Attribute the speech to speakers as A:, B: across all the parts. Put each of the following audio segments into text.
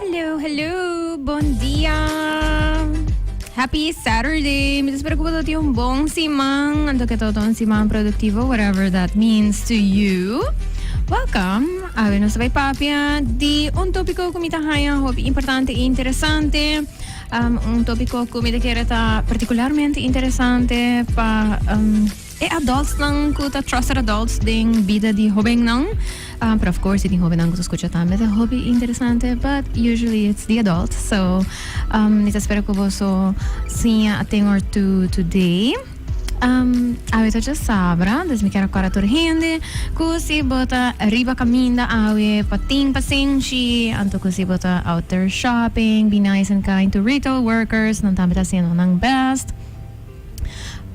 A: Hello, hello, bon dia. Happy Saturday. Mi espero que vos tiene un bon siman. Anto que todo un siman productivo, whatever that means to you. Welcome. A ver, nos vai papia di un tópico que me ta haya hopi importante e interesante. Um, un tópico que me te quiere ta particularmente interesante pa um, E adultsnan cu ta trusted adults den bida di hobennan, ah, pero of course tin hobennan cu ta scucha tambe ta hopi interesante, but usually it's the adults. So, um, mi ta spera cu boso siña a tin or two today. Um, awe ta dje sabra, dus mi kier a corda tur hende cu si bo ta riba caminda awe pa tin pasenshi, anto cu si bo ta out there shopping, be nice and kind to retail workers, nan tambe ta haciendo nan best.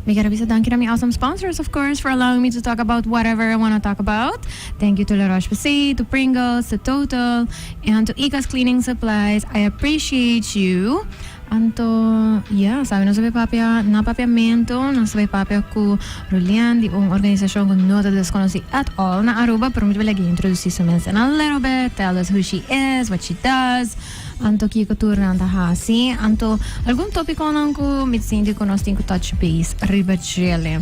A: Mi quiero bisa danki na mi awesome sponsors of course for allowing me to talk about whatever I wanna talk about. Thank you to La Roche Posay, to Pringles, to Total, and to Ika's Cleaning Supplies. I appreciate you. Anto, ya, sabi nos a bay papia na papiamento, nos a bay papia cu Rulian di un organisacion cu no ta desconoci at all na Aruba, pero mi ta bay like introduci su mes in a little bit, tell us who she is, what she does. Anto kiko tur nan ta hasi? Anto algun topiconan cu mi sinti cu nos tin cu touch base riba djele?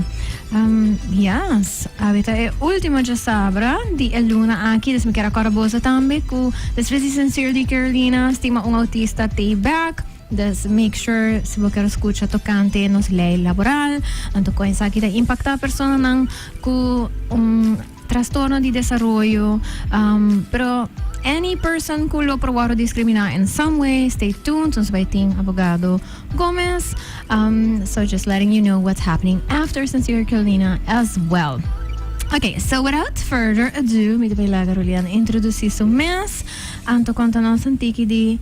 A: Um, yes, awe ta e ultimo djasabra di e luna aki, dus mi kier a corda boso tambe cu despues di Sincerely Carolina stima un autista te back, dus make sure si bo kier scucha tocante nos ley laboral, anto con esaki ta impacta personanan cu un. Trastorno di desaroyo, pero any person cu lo probado discrimina in some way stay tuned nos bay tin abogado Gomez so just letting you know what's happening after Sincere Carolina as well. Ok so without further ado mi ta bay laga Rulian introduci su mes anto conta nos un tiki di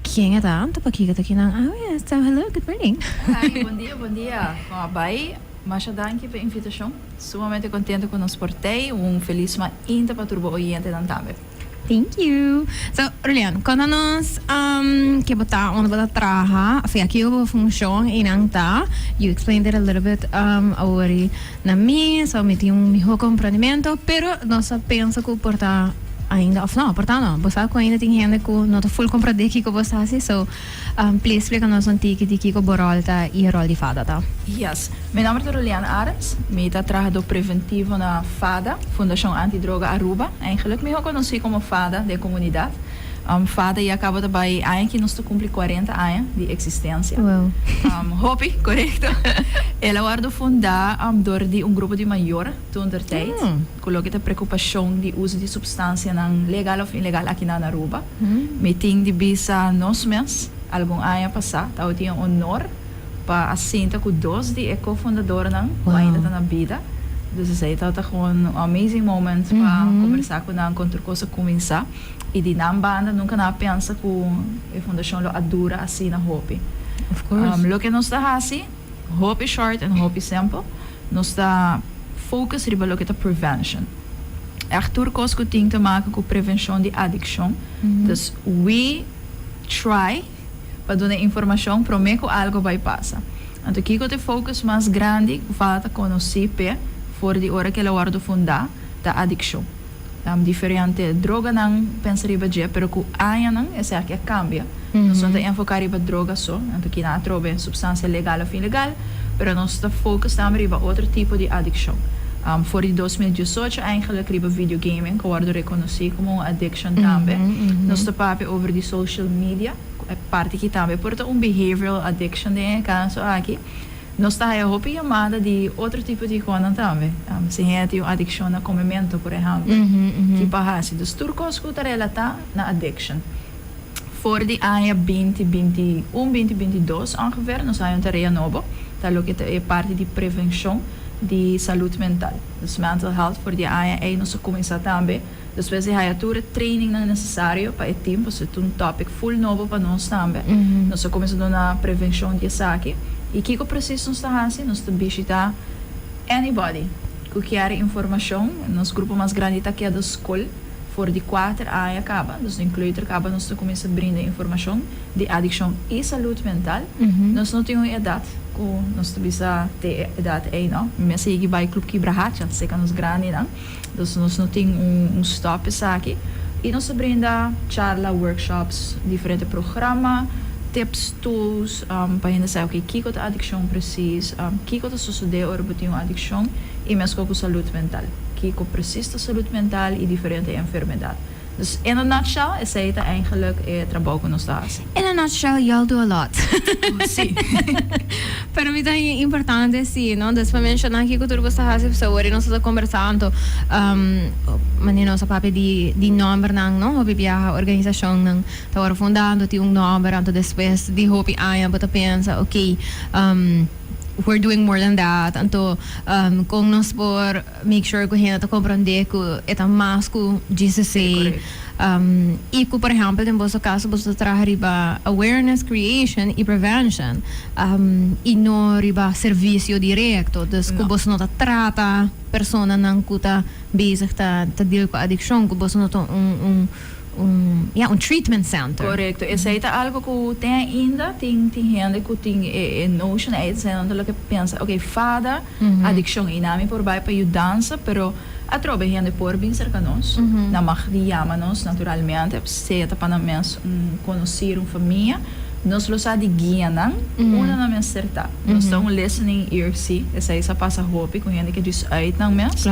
A: ken e ta anto pakico ta kinan awe so hello good morning. Hi bondia bondia con a bay masha danki
B: pa invitacion. Sumamente contento cu nos por t'ey. Un feliz ma inta pa tur bo oyentenan tambe. Thank you.
A: So, Rulian, conta nos ke bo ta, unda bo ta traha, afe aki yu bo funcion y nan ta. You explained it a little bit awori na mi, so mi tin un miho comprendimento, pero nos ta pensa cu por ta ainda, of no, por ta no, bo sa cu ainda tin hende cu no ta full comprende kico bo sa haci, so. Please splica nos un tiki di kico bo rol ta y e rol di fada ta. Yes. Mi nomber
B: ta Ruliane Arends. Mi ta trahador preventivo na FADA, Fundacion Anti Droga Aruba, eigenlijk mihor conoci como FADA den comunidad. FADA ya caba ta bay aña aki nos ta cumpli cuarenta aña di existencia.
A: Hopi,
B: corecto. El a wordo funda door di un grupo di mayor toentertijd. Cu loke ta preocupacion di uzo di substancianan legal of ilegal aki na Aruba? Mi tin di bisa nos mes, algun aña pasá tawe tin e honor pa a sinta cu dos di e co-fundadornan cu ainda ta na bida. Dus esei tawe ta gewoon un amazing moment pa combersa cu nan con tur cosa cuminsá. I di nan banda nunca nan a pensa cu e fundacion lo a dura asina hopi.
A: Loke nos ta haci?
B: Hopi short en hopi simpel. Nos ta focus riba loke ta prevention. Echt tur cos cu tin ta maca cu prevencion di adiccion. Dus we try pa duna e informacion prome cu algo bay pasa. Anto kico ta e focus mas grandi cu falta conoci pe for di ora cu el a wordo funda ta adiccion. Diferente droganan pensa riba dje, pero ku añanan esaki a kambia. Nos no ta enfoká riba droga so, nan ta kina atrobe supstansia legal òf ilegal, pero nos ta fokus tambe riba otro tipo di adikshon. For di dos mil diesocho eingelik riba video gaming ku a wòrdu rekonosí komo un adikshon tambe. Nos ta papia over di social media, ku e parti ki tambe por ta un behavioral adikshon den e kaso aki. Nos ta haya hopi yamada di otro tipo di hijonan tambe. Si hende tin un adiccion na come mento, por ehempel, ki pa haci? Dus tur cos cu ta relata na addiction. For di aña binti binti i un, binti binti i dos ongeveer, nos haya un tarea nobo, ta loke ta e parti di prevencion di salud mental. Dus mental health for di aña ey nos a cuminsa tambe. Despues e haya tur e trainingnan nesesario pa e team, pasobra e ta un topic full nobo pa nos tambe. Nos a cuminsa duna prevencion di esaki. Y kico precies nos ta haci? Nos ta bishita anybody cu kier informacion. Nos grupo mas grandi ta keda scol for di kuater aña caba. Dus den kleuter caba nos ta cuminsa brinda informacion di adiccion y salud mental. Nos no tin un edad cu nos ta bisa te e edad ey no. Mi a sigui bay Club Kibrahacha, seca nos grandinan. Dus nos no tin un stop esaki y nos ta brinda charla, workshops, diferente programa, tips, tools pa hende sa oke kico ta adiccion precies, kico ta sosode ora bo tin un adiccion y mescua cu salud mental, kico precies ta salud mental y diferente enfermedad. Dus in a nutshell esey ta eigenlik e trabou ku nos ta hasi. In a nutshell y'all
A: do a lot. Oh si. Pero mi ta haya importante si no despues mi menshoná kiko tur boso ta hasi pasobra wor di nos tabata kombersá anto manera nos a papia di di nòmbernan no hopi biaha organisashonnan ta wòrdu fundá anto tin un nòmber anto despues di hopi aña bo ta pensa okay we're doing more than that anto kon nos por make sure cu hende ta comprende cu e ta mas cu GCC y cu por ehempel den boso caso boso ta traha riba awareness creation y prevention y no riba servicio directo, dus cu boso no ta trata personanan cu ta bezig ta deal cu adiccion, cu boso no ta un un treatment center. Corecto, esey ta algo
B: cu te ainda tin tin hende cu tin e notion ay, esey nan ta lo ke pensa, ok, fada. adiccion y nan mi por bay pa yu dansa pero atrobe hende por bin cerca nos nan mag di yama nos naturalmente sea ta pa nan mes un conocido un famia nos lo sa di guia nan hoe lo nan mester ta nos ta un listening ear si esai sa pasa hopi cu hende ke djis uit nan mes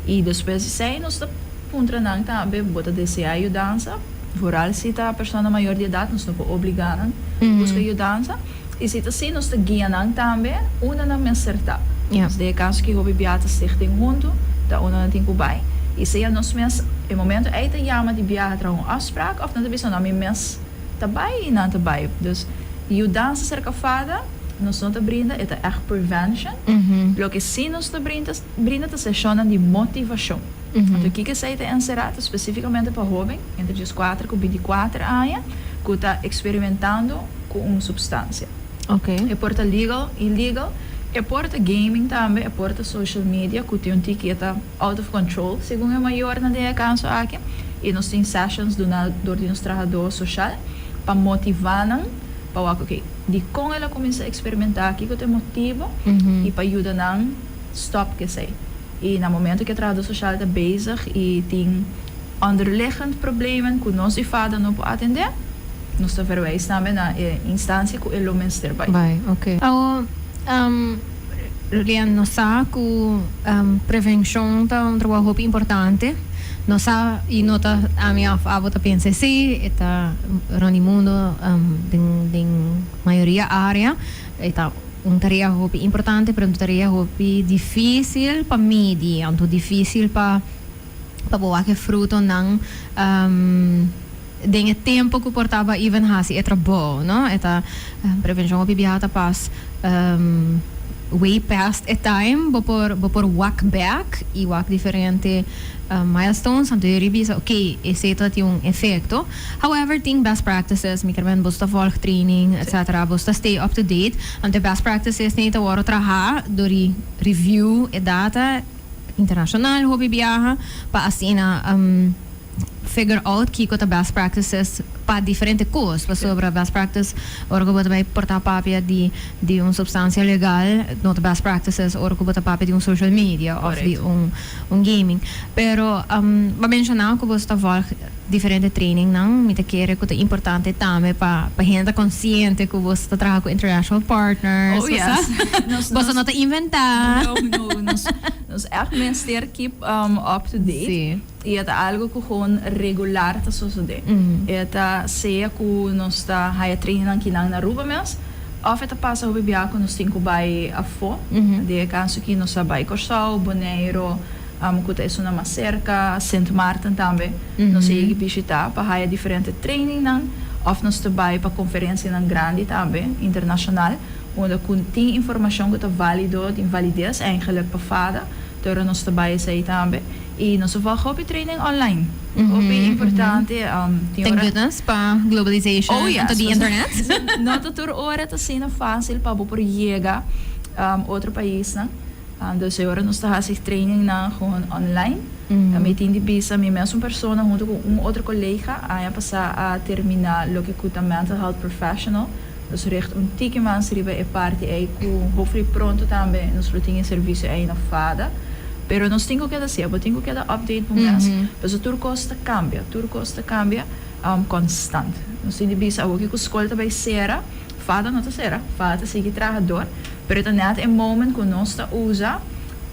B: y despues
A: di esai
B: nos ta puntra nan tambe bo ta desea yu dansa vooral si ta persona mayor di edad nos no por obliga nan busca yu dansa. I si ta así, nos ta guia nan tambe unda nan mester ta. Nos deja kas ki hopi biaha stig tin huntu, ta unda nan tin ku bai. I sea nos mes e momentu ei ta yama di biaha traha un afsprak òf nan ta bisa, No, mi mes ta bai i nan ta bai. Dus, yudansa serka fada nos no ta brinda, e ta ègt prevention. Loke sí nos ta brinda ta seshonnan di motivashon. Anto kiko esei ta enserá? Ta spesífikamente pa hóben entre djis kuater ku binti kuater aña ku ta eksperimentando ku un supstansia. E por
A: ta legal,
B: illegal, e por ta gaming tambe, e por ta social media ku tin un tiki e ta out of control segun e mayornan den e kaso aki i nos tin sessions duná dor di nos trahadó soshal pa motivá nan pa wak oké dikon el a kuminsá eksperimentá, kiko ta e motibu i pa yuda nan stòp ku esei. I na momento cu e trahador social ta bezig y tin onderliggend problemen cu nos y fada no por atende, nos ta verwijs tambe na e instancia cu e lo mester bay.
A: Awor, Rian, nos sa cu prevencion ta un trabaho hopi importante. Nos sa, y no ta ami of abo ta pensa esey, e ta rond di mundo den mayoria area, e ta Un tarea hopi importante, pero un tarea hopi difícil pa midi, anto difícil pa pa bo wak e frutonan den e tempo ku por tabata even hasi e trabou, no. E ta prevenshon hopi biaha ta pas way past e time bo por bo por wak bèk i wak diferente milestones anto dje riba bisa, okay esei ta tin un efekto. However, tin best practices, mi kermen bos ta volg training etc. Bos ta stay up to date, want e best practices nei ta wòrdu trahá dor di review e data internashonal, hopi biaha, pa asina figure out kiko ta best practices pa diferente kos. Pasobra best practice ora ku bo ta bai portá papia di di un supstansia legal no ta best practices ora ku bo ta papia di un social media òf di un un gaming. Pero bo a menshoná ku bo ta vòlg. diferente trainingnan. Mi ta kere ku ta importante tambe pa pa hende ta konsiente ku boso ta traha ku international partners. Oh ya.
B: Boso no ta
A: inventá. No, no.
B: Nos, nos ègt mester keep up to date. Sí. I e ta algu
A: ku
B: gewoon regular ta sosodé. E ta sea ku nos ta haya trainingnan kinan na Aruba mes, òf e ta pasa hopi biaha ku nos tin ku bai afó. Den e kaso ki nos a bai Kòrsou, Boneiru. Amo cu ta esuna mas cerca, Sint Maarten tambe nos a yegi bishita pa haya diferente trainingnan of nos ta bay pa conferencianan grandi tambe, internacional, unda cu tin informacion cu ta valido, tin validez eindelijk pa fada, te ora nos ta bay esey tambe. Y nos a volg hopi training online, hopi importante, tin ora. Thank goodness
A: pa globalization Oh yes, anto di internet. no ta tur
B: ora ta asina facil pa bo por yega otro paisnan. Anto esei ora nos ta hasi trainingnan gewoon online. Ta mi tin di bisa mi mesun persona hunto ku un otro kolega aña pasá a terminá loke ku ta mental health professional. Nos richt un tiki mas riba e parti ei ku hopefully pronto tambe nos lo tin e servisio ei na Fada. Pero nos tin ku keda sier, bo tin ku keda update bo mes pasobra tur kos ta kambia, tur kos ta kambia konstant. Nos tin di bisa awo ke ku skol ta bai sera. Fada no ta sera, fada ta sigui traha door, pero e ta net e moment cu nos ta usa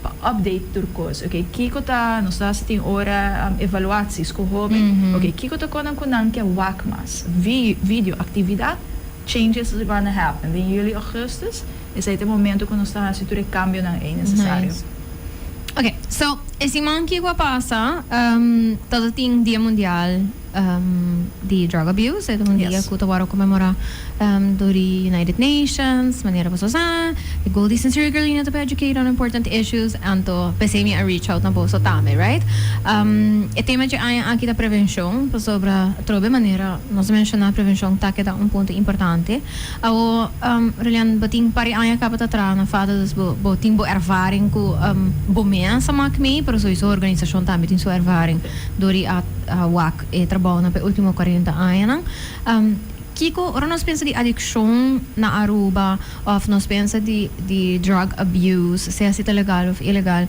B: pa update tur cos, ok, kico ta, nos ta haci tin ora evaluatie, scu hoben, ok, kico ta conan cu nan ke wak mas, video, actividad, changes is gonna happen, den juli, augustus, esai ta e momento cu nos ta haci tur e cambionan ey necesario.
A: Ok, so e siman kico a pasa, ta ta tin Dia Mundial. di drug abuse e ta un dia ku ta wòrdu komemorá dor di United Nations manera boso sa e Gold Eastern Circle i no ta por educate on important issues anto p'esei mi a reach out na boso tambe right e tema dje aña aki ta prevenshon pasobra atrobe manera nos a menshoná prevenshon ta keda un punto importante awo Rulian bo tin par di aña kaba ta traha na fado dus bo tin bo ervaring ku bo mes a mak mei pero sowieso organisashon tambe tin su ervaring. Dor i a wak e trabounan pa e ultimo cuarenta añanan. Kiko, ora nos pensa di adiccion na Aruba of nos pensa di di drug abuse, sea si ta legal of ilegal,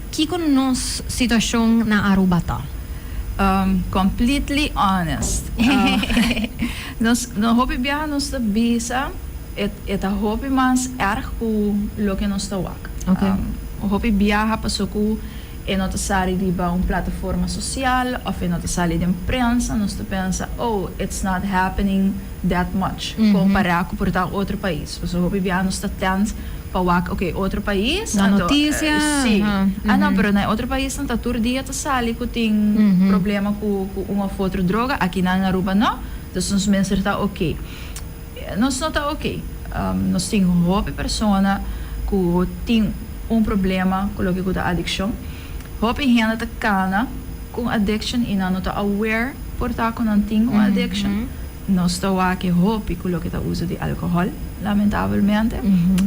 A: kiko nos situacion na Aruba ta? Completely
B: honest, nos no hopi biaha nos ta bisa e e ta hopi mas erg cu loke nos ta wak.
A: Hopi biaha
B: paso cu. E no ta sali riba un plataforma sosial of e no ta sali den prensa, nos ta pensa, oh, it's not happening that much compara cu por ta un otro pais. Pasobra hopi bia nos ta tent pa wak, ok, otro pais, Na anto, noticia, si,
A: aha, ah,
B: no, mhm. pero na e otro paisnan ta tur dia ta sali cu tin problema cu un of otro droga, aki nan in Aruba no, dus nos mester ta ok. Nos no ta ok. Nos tin hopi persona ku tin un problema ku loke ku ta adikshon. Hopi hende ta kana ku un adikshon i nan no ta aware por ta ku nan tin un adikshon. Nos ta wak-e hopi ku loke ta uso di alkohòl, lamentabelmente.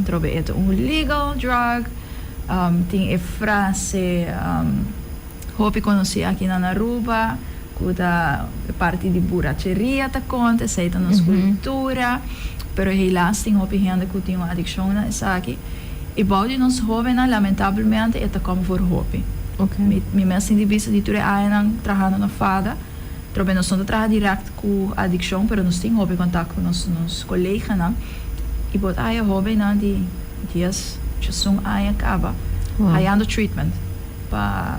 B: Trobe e ta un legal drug. Tin e frase. Hopi conoci aki nan Aruba cu ta e parti di buracheria ta conta, esai ta nos cultura, pero helaas tin hopi hende cu tin un adiccion na esaki, y bao di nos hobennan lamentablemente e ta come for hopi. Mi mes
A: tin di bista
B: di tur e añanan trahando na FADA, probe nos no ta traha direct cu adiccion, pero nos tin hopi contact cu nos coleganan, y bo ta haya hobennan di dies, diesun aña caba hayando treatment. pa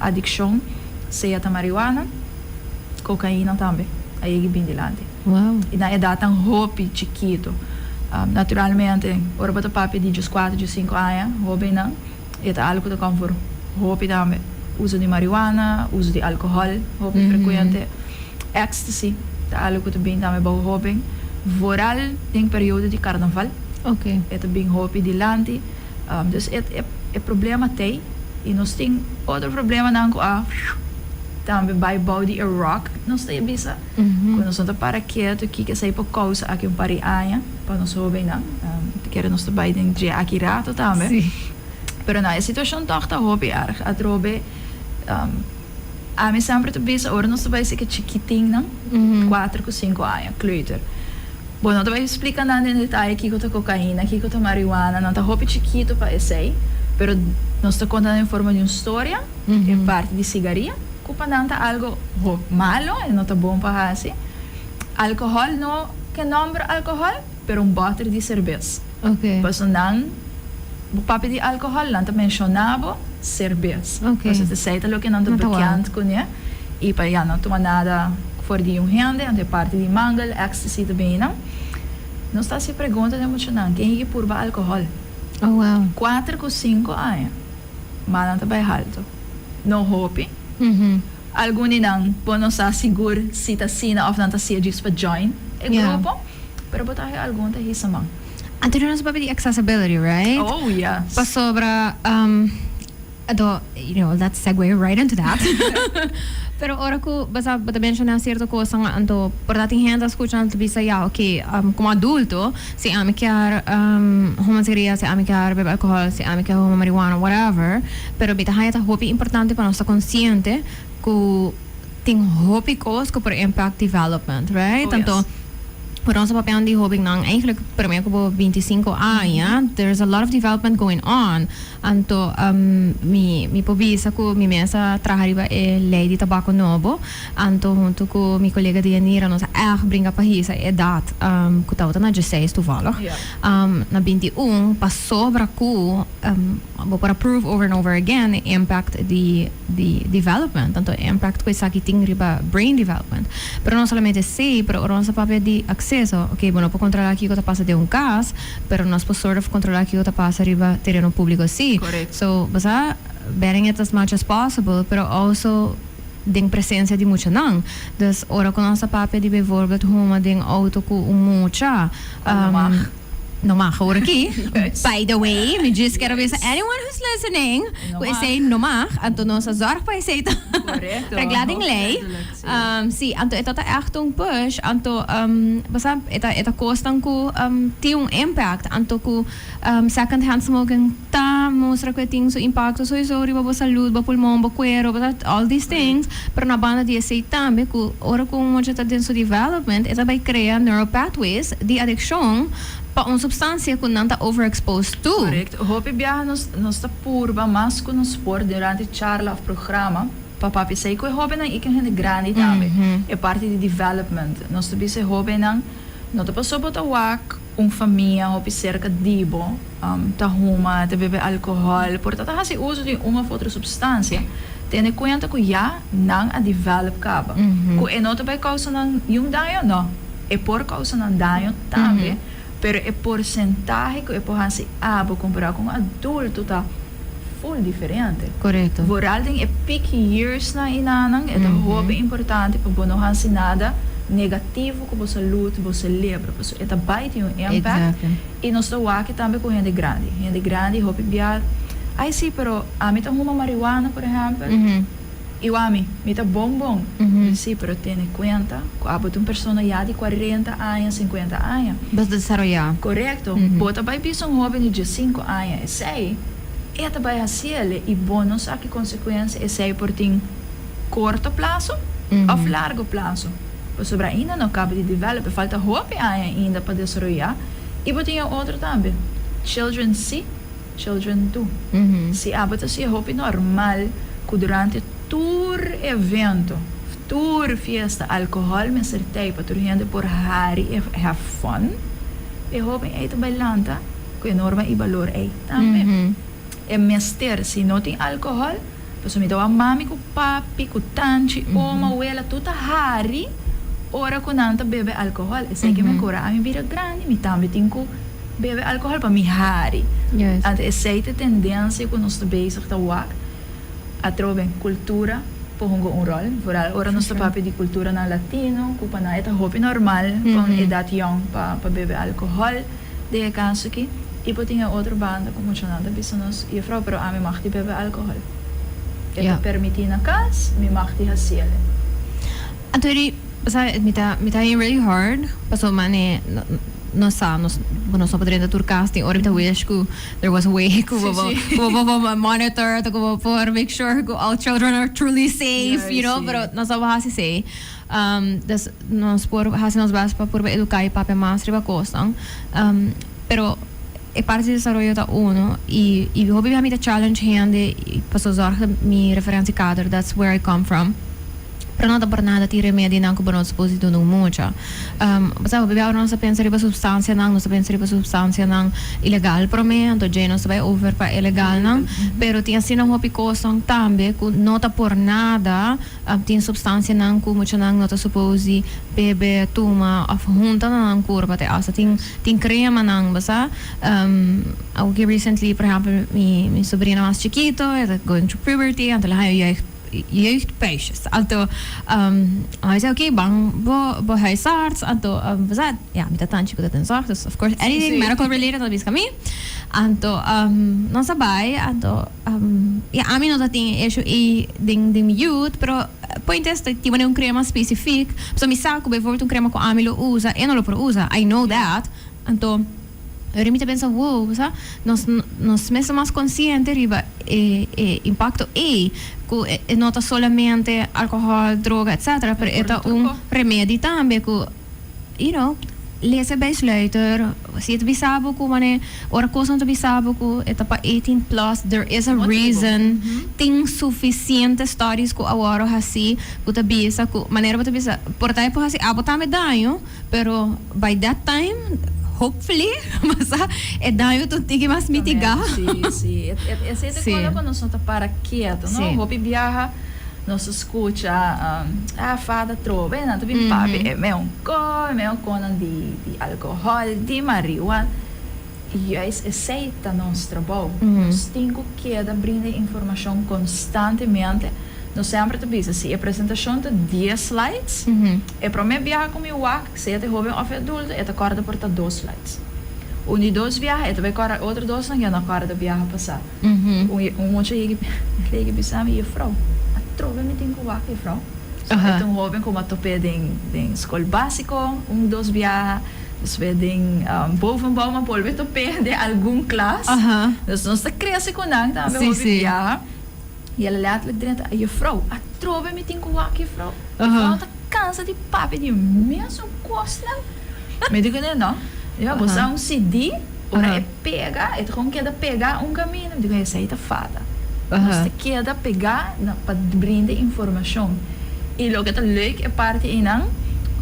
B: adiccion, sea ta marihuana, cocaina tambe a yegi bin dilanti. Wow. Y na
A: edadnan
B: hopi chikito. Naturalmente, ora bo ta papia di djus kuater, djus sinku aña, hobennan, e ta algo cu ta com for hopi tambe. Uso di marihuana, uso di alcohol hopi frecuente, ecstasy ta algo cu ta bin tambe bou hoben, vooral den periodo di carnaval. Oké. E ta
A: bin hopi
B: dilanti. Dus e e problema t'ey y nos tin otro problemanan cu a tambe bay bou di e rock. Nos ta e bisa cu nos no ta para keto, kiko esey por causa aki un par di aña pa nos hobennan. Te kere nos ta bay den drie aki rato tambe.
A: Pero nan e
B: situacion toch ta hopi erg atrobe. Ami semper ta bisa ora nos ta bai eseki chikitinnan, kuater ku sinku aña, kleuter. Bo no ta bai splika nan den detaye kiko ta kokaina, kiko ta marihuana, nan ta hopi chikitu pa esei, pero nos ta konta nan den forma di un storia, e parti di sigaria, ku pa nan ta algo malo, e no ta bon pa hasi. Alkohòl, no ke nòmber alkohòl, pero un bòter di serbes. Personan bo papia di alcohol nan ta menciona bo serbes cos esey ta
A: loke nan ta
B: bekend cune y pa ya no tuma nada for di un hende anto e parti di mangle ecstasy ta bini nan nos ta haci pregunta den mucha nan ken yigi purba alcohol
A: cuater cu cinco
B: aña ma nan ta bay halto no hopi algun di nan bo no sa sigur si ta asina of nan ta siya djis pa join e grupo. Pero bo ta haci algun ta hisa man. Antonio nos a papia
A: di accessibility right? Oh yes. Pasobra um do you know that segue right into that pero ora cu basaf bo ta menciona cierto cosanan anto por ta tin hende a scucha anto ta bisa ya ok um como adulto si ami kier um huma cigarilla si ami kier bebe alcohol si ami kier huma marijuana whatever pero mi ta haña ta hopi importante pa nos ta consciente cu. Tin hopi cos cu por impact development, right? Oh, yes. Tanto cu
B: nos a papian
A: di hobennan, eigenlijk prome cu bo binti i sinku aña, there is a lot of development going on. Anto um mi mi por bisa cu mi mes a traha riba e ley di tabaco nobo. Anto hunto cu mi colega di Yanira nos a echt bringa pa hisa e edad um cu tabata na diesseis toevallig. Yeah. Um na binti i un pasobra cu um. Bo por a prove over and over again e impact di di development, tanto e impact cu esaki tin riba brain development. Pero no solamente esey, pero ora nos ta papia di acceso, ok, bo no por controla kico ta pasa den un cas, pero nos por sorde for controla kico ta pasa riba tereno publico si. So, bo sa, banning it as much as possible, pero also den presencia di muchanan. Dus, ora cu nos ta papia di bijvoorbeeld huma den auto cu un mucha, um. No mag hoor aki. By the way,
B: mi
A: djis kero bisa anyone who's listening ku esei no mag, anto nos a zorg pa esei ta regla den
B: lei.
A: Si, anto e ta ta ègt un push, anto bo sa e ta kosnan ku tin un impact, anto ku second hand smoking. ta mustra cu e tin su impacto soiso riba bo salud, bo pulmon, bo cuero, bo ta, all these things, pero na banda di esey tambe cu ora cu un mucha ta den su development e ta bay crea neural pathways di adiccion pa un substancia cu nan ta overexposed to. Correct. Hopi biaha
B: nos nos ta purba mas cu nos por durante charla of programa pa papia esey cu e hobennan y cu e hende grandi tambe. E parti di development. Nos ta bisa e hobennan, no ta paso bo ta wak. Un famia hopi serka di bo ta huma, ta bebe alcohol, por ta ta hasi uso di un of otro substancia, tene cuenta cu ya nan a develop caba cu e no ta bay causa nan niun daño, no, e por causa nan daño tambe, pero e porcentahe cu e por hasi abo comparado cu un adulto ta. Full diferente. Korekto. Vooral
A: den e peak
B: years nan i nanan e ta hopi importante pa bo no hasi nada negativo ku bo salud, bo selebra, pasobra e ta bai tin un impact. Exacto. I nos ta wak tambe ku hende grandi. Hende grandi hopi bia, ai si, pero ami ta huma marihuana, por ehèmpel. I wami, mi ta bon bon. Di si, pero tene kuenta ku abo ta un persona ya di kuarenta aña, sinkuenta aña. Bas desaroyá.
A: Korekto. Bo
B: ta bai bisa un hóben di diesinku aña esei, e ta bai hasi ele i bo no sa ki konsekuensia esei por tin korto plaso òf largu plaso. Pasobra ainda no kaba di develop, e falta hopi aña ainda pa desaroyá. I bo tin e otro tambe, children si. Children too. Si abo ta si'e hopi normal cu durante tur evento, tur fiesta alcohol mester tey pa tur hende por hari e have fun, e hoben ey ta bay lanta cu e norma y balor ey tambe. E mester si no tin alcohol. Pasobra mi ta wak mami ku papi, ku tanchi, oma, wela, tur ta hari ora ku nan ta bebe alkohòl. Esei ke mi a kura ami bira grandi mi tambe tin ku bebe alkohòl pa mi hari. Anto esei
A: ta e
B: tendensia ku nos ta bezig ta wak. Atrobe kultura por hunga un ròl, vooral ora nos ta papia di kulturanan latino ku pa nan e ta hopi normal fon edat yòn pa bebe alkohòl. Den e kaso aki, i por tin e otro banda ku muchanan ta bisa nos, Yefrou, pero ami mag di bebe alkohòl. E ta permití na kas, mi mag di hasi el e. Anto
A: eri, pasobra mi ta mi ta hei really hard, paso mane nos sa, nos bo nos no por drenta tur kas, tin ora mi ta wish ku there was a way ku bo ku bo por monitor, tok ku bo por make sure ku all children are truly safe, you know, pero nos no por hasi esei. Des nos por hasi nos bes pa purba educa e papia mas riba cosnan. Pero e parti di desaroyo ta uno y y hopi bia mi ta challenge hende pasobra zorg ta mi referentie kader that's where I come from. Pero no ta por nada tin remedionan cu bo no ta suppose di duna un mucha. Bo sabi hopi bia ora nos ta pensa riba substancianan nos ta pensa riba substancianan ilegal prome anto dje nos ta bay over pa e legalnan pero tin asina hopi cosnan tambe cu no ta por nada. Ap tin supstansianan ku muchanan no ta supos di bebe, tuma òf hunta na nan kurpa. Te asta tin tin kremanan, bo sa. Awiki recently, por ehèmpel, mi mi sobrina mas chikito, e ta going through puberty, anto lo haña jeugd jeugdpuistjes. Anto, mi se oké, ban bo bo huisarts, anto, bo sa, ya mi ta tan chiko ta den zòg, dus of course anything medical related ta biska mi. Anto, nos a bai, anto. Ya, ami no ta tin e issue ei den den mi youth, pero point es ta tabata den un crema specific, pasobra mi sa cu bijvoorbeeld un crema cu ami lo usa e no lo por usa, I know that, anto ahora mi ta pensa wow, bo sa, nos nos mes ta mas consciente riba e e impacto ei, cu e no ta solamente alcohol, droga, etcetera, pero e ta un remedi tambe cu. You know, lese Bijsluiter, si e ta bisa bo ku manera ora kos no ta bisa bo ku e ta pa eighteen plus, there is a reason. Tin sufisiente studies ku awor hasi ku ta bisa ku manera bo ta bisa por ta e por hasi abo tambe daño, pero by that time, hopefully, basa, e daño ta un tiki mas mitigá. Sí,
B: sí. E esei ta kola ku nos no ta para kietu, no? Hopi biaha. Nos scucha a fada trobe nan ta bin papi e meo co e meo co nan di di alcohol di mariua y juist esey ta nos trabou nos tin cu keda brinda e informacion constantemente nos semper ta bisa si e presentacion ta dies slides e prome biaha cu mi wak Sea t'e hoben òf e adulto, e ta kòrda por ta dos flights. Un di dos biaha, e ta bai kòrda. Otro dosnan ya no a kòrda biaha pasá. Un mochi a yegi, el a yegi bisa mi, Jufrou, atrobe mi tin ku wak, Jufrou. So, e ta un hoben komo a top'é den skol básiko un dos biaha. Despues den bovenbou, ma bolbe top'é den algun klas. Dus nos ta krese ku nan tambe, hopi biaha. I el a letterlijk drenta, Juffrouw, atrobe mi tin ku wak, Juffrouw. Juffrouw ta kansa di papia di un mesun kosnan. Mi di ku el, No, mi a bosa un CD, ora e pega, e ta kon keda pegá un kaminda. Mi di ku el, Esei ta fata. Nos ta keda pegá na pa brinda informashon. I loke ta leuk e parti einan,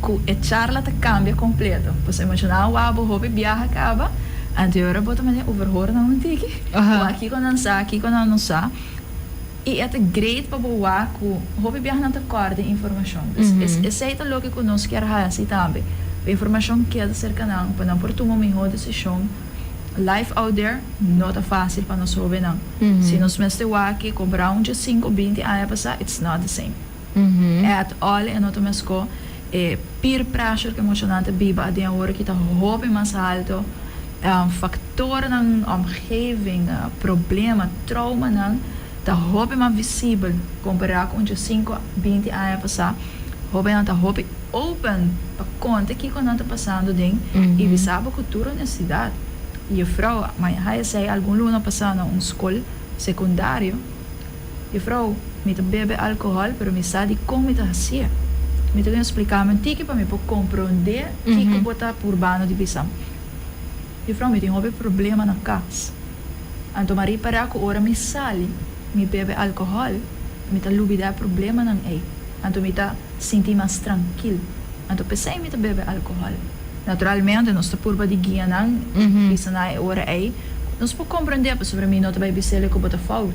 B: ku e charla ta kambia kompleto. Boso imashiná awa bo hopi biaha kaba, anto e ora bo ta manera overhoor na un tiki. Bo a kiko nan sa, kiko nan no sa. I e ta great pa bo wak ku hopi biaha nan ta kòrda e informashon. Pues esei ta loke ku nos kier hasi tambe. Pa e informashon keda serka nan, pa nan por tuma un mihó desishon. Life out there no ta fásil pa nos hóbennan. Si nos mester wak e kompará un dje sinku o binti aña pasá, it's not the same. At all, e no ta meskó. E peer pressure ke mucha nan ta biba aden awor aki ta hopi mas haltu. Faktornan, omgeving, problema, troumanan ta hopi mas visibel kompará ku un dje sinku, binti aña pasá. Hóbennan ta hopi open pa konta kiko nan ta pasando den i bisa bo ku tur onestidat. Yefrou, maña haya esei algun luna pasá na un skol sekundario. Jufrouw, mi ta bebe alcohol, pero mi sa di con mi ta hacié. Mi ta win splicanan un tiki pa mi por comprendé kico bo ta purbando di bisam. Jufrouw, mi tin hopi problema na cas. Anto mi a ripara cu ora mi sali, mi bebe alcohol, mi ta lubida e problemanan ey. Anto mi ta sinti mas trankil. Anto pesey mi ta bebe alcohol. Naturalmente nos ta purba di guia nan, bisa nan e ora ey. Nos por comprendé pasobra mi no ta bay bisele cu bo ta fout.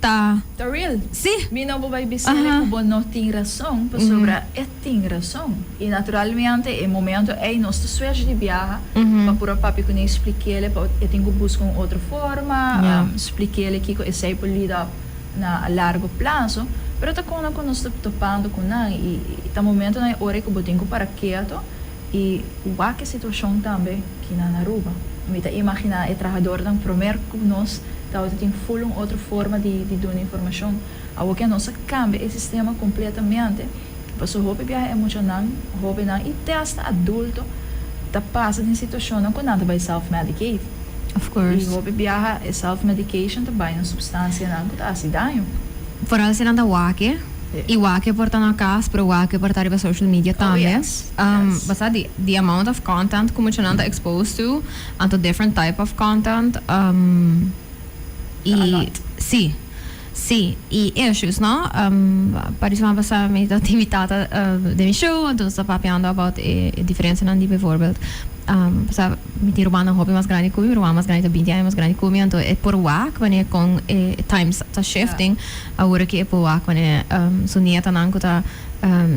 A: ta. Ta real. Sí.
B: Mi no bo bay
A: bisele
B: cu bo no tin razon, pasobra e tin razon. Y naturalmente e momento ey nos ta swech di biaha pa puro papia cu Ney, splikele pa e tin cu busca un otro forma, splikele kico esey por lead up na a largo plazo. Pero ta con nan cu nos ta topando cu nan y ta momentonan y oranan cu bo tin cu para keto. I wak e situashon tambe ki na Aruba. Mi ta imaginá e trahadornan promer ku nos tabata tin ful un otro forma di di duna informashon. Awo ke nos a kambia e sistema kompletamente, paso hopi biaha e muchanan, hóbennan i te asta adulto ta pasa den situashonnan ku nan ta bai self-medicate.
A: I hopi
B: biaha
A: e
B: self-medication ta bai na supstansianan ku ta hasi daño. Foral si nan ta
A: wak e. Y wak por ta na cas pero wak por ta riba social media tambe. Basa
B: di di amount
A: of content cu muchanan ta exposed to, anto different type of content. Ta a lot.
B: Si,
A: si. Y issues no, pa di suma basa mi ta tin mi tata den mi show entonces ta papiando about e diferencianan di bijvoorbeeld basa mi tin rubannan hopi mas grandi cu mi, mi rubannan mas grandi ta binti aña mas grandi cu mi, anto e por wak wanneer con e times ta shifting. Awor aki e poa con e su nietanan cu ta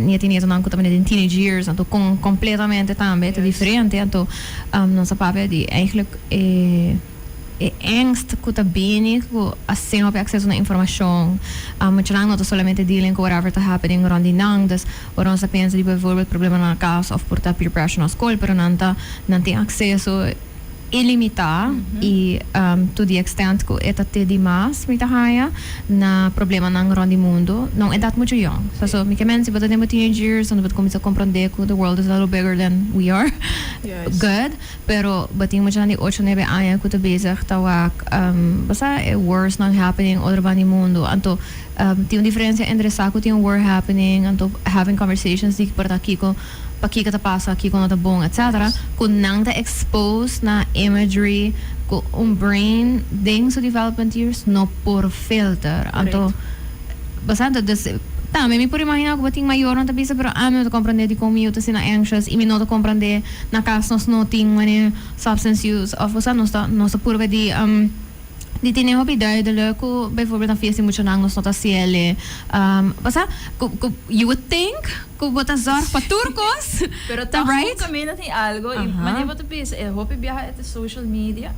A: nieti nietonan cu ta bini den teenage years anto con completamente tambe ta diferente anto nos a papia di eigenlijk e e angst cu ta bini cu asina hopi acceso na informacion muchanan no ta solamente dealing cu whatever ta happening rond di nan dus ora nos ta pensa di bijvoorbeeld problema na cas of por ta peer pressure na school pero nan ta nan tin acceso ilimitá i to di extent ku e ta te di mas mi ta haña na problemanan rònt di mundu. Nau e dat muchu yòn. Sa so mi ke men si bo ta den bo teenage years unda bo ta kuminsá komprondé ku the world is a little bigger than we are good. Pero bo tin muchanan di ocho nebe aña ku ta bezig ta wak bo sa e wars-nan happening otro banda di mundu. Anto tin un diferensia entre sa ku tin un war happening anto having conversations di por ta kiko Pakiko ta pasa aki ku no ta bon etc. Ku nan ta expose na imagery ku un brain den su development years no por filter. Anto basá anto des ta mi por imagina ku bo tin mayornan ta bisa pero ami no ta comprende dikon mi yu ta asina anxious i mi no ta comprende na kas nos no tin mane substance use of basá nos ta nos ta purba di. di tine hopi duidele ku bijvoorbeeld na fies di mucha nan nos no ta siele pasá ku ku you would think ku bo ta zorg pa tur kos Pero ta right.
B: Tahun kaminda tin
A: algo i
B: mane bo ta bisa e hopi biaha e te social media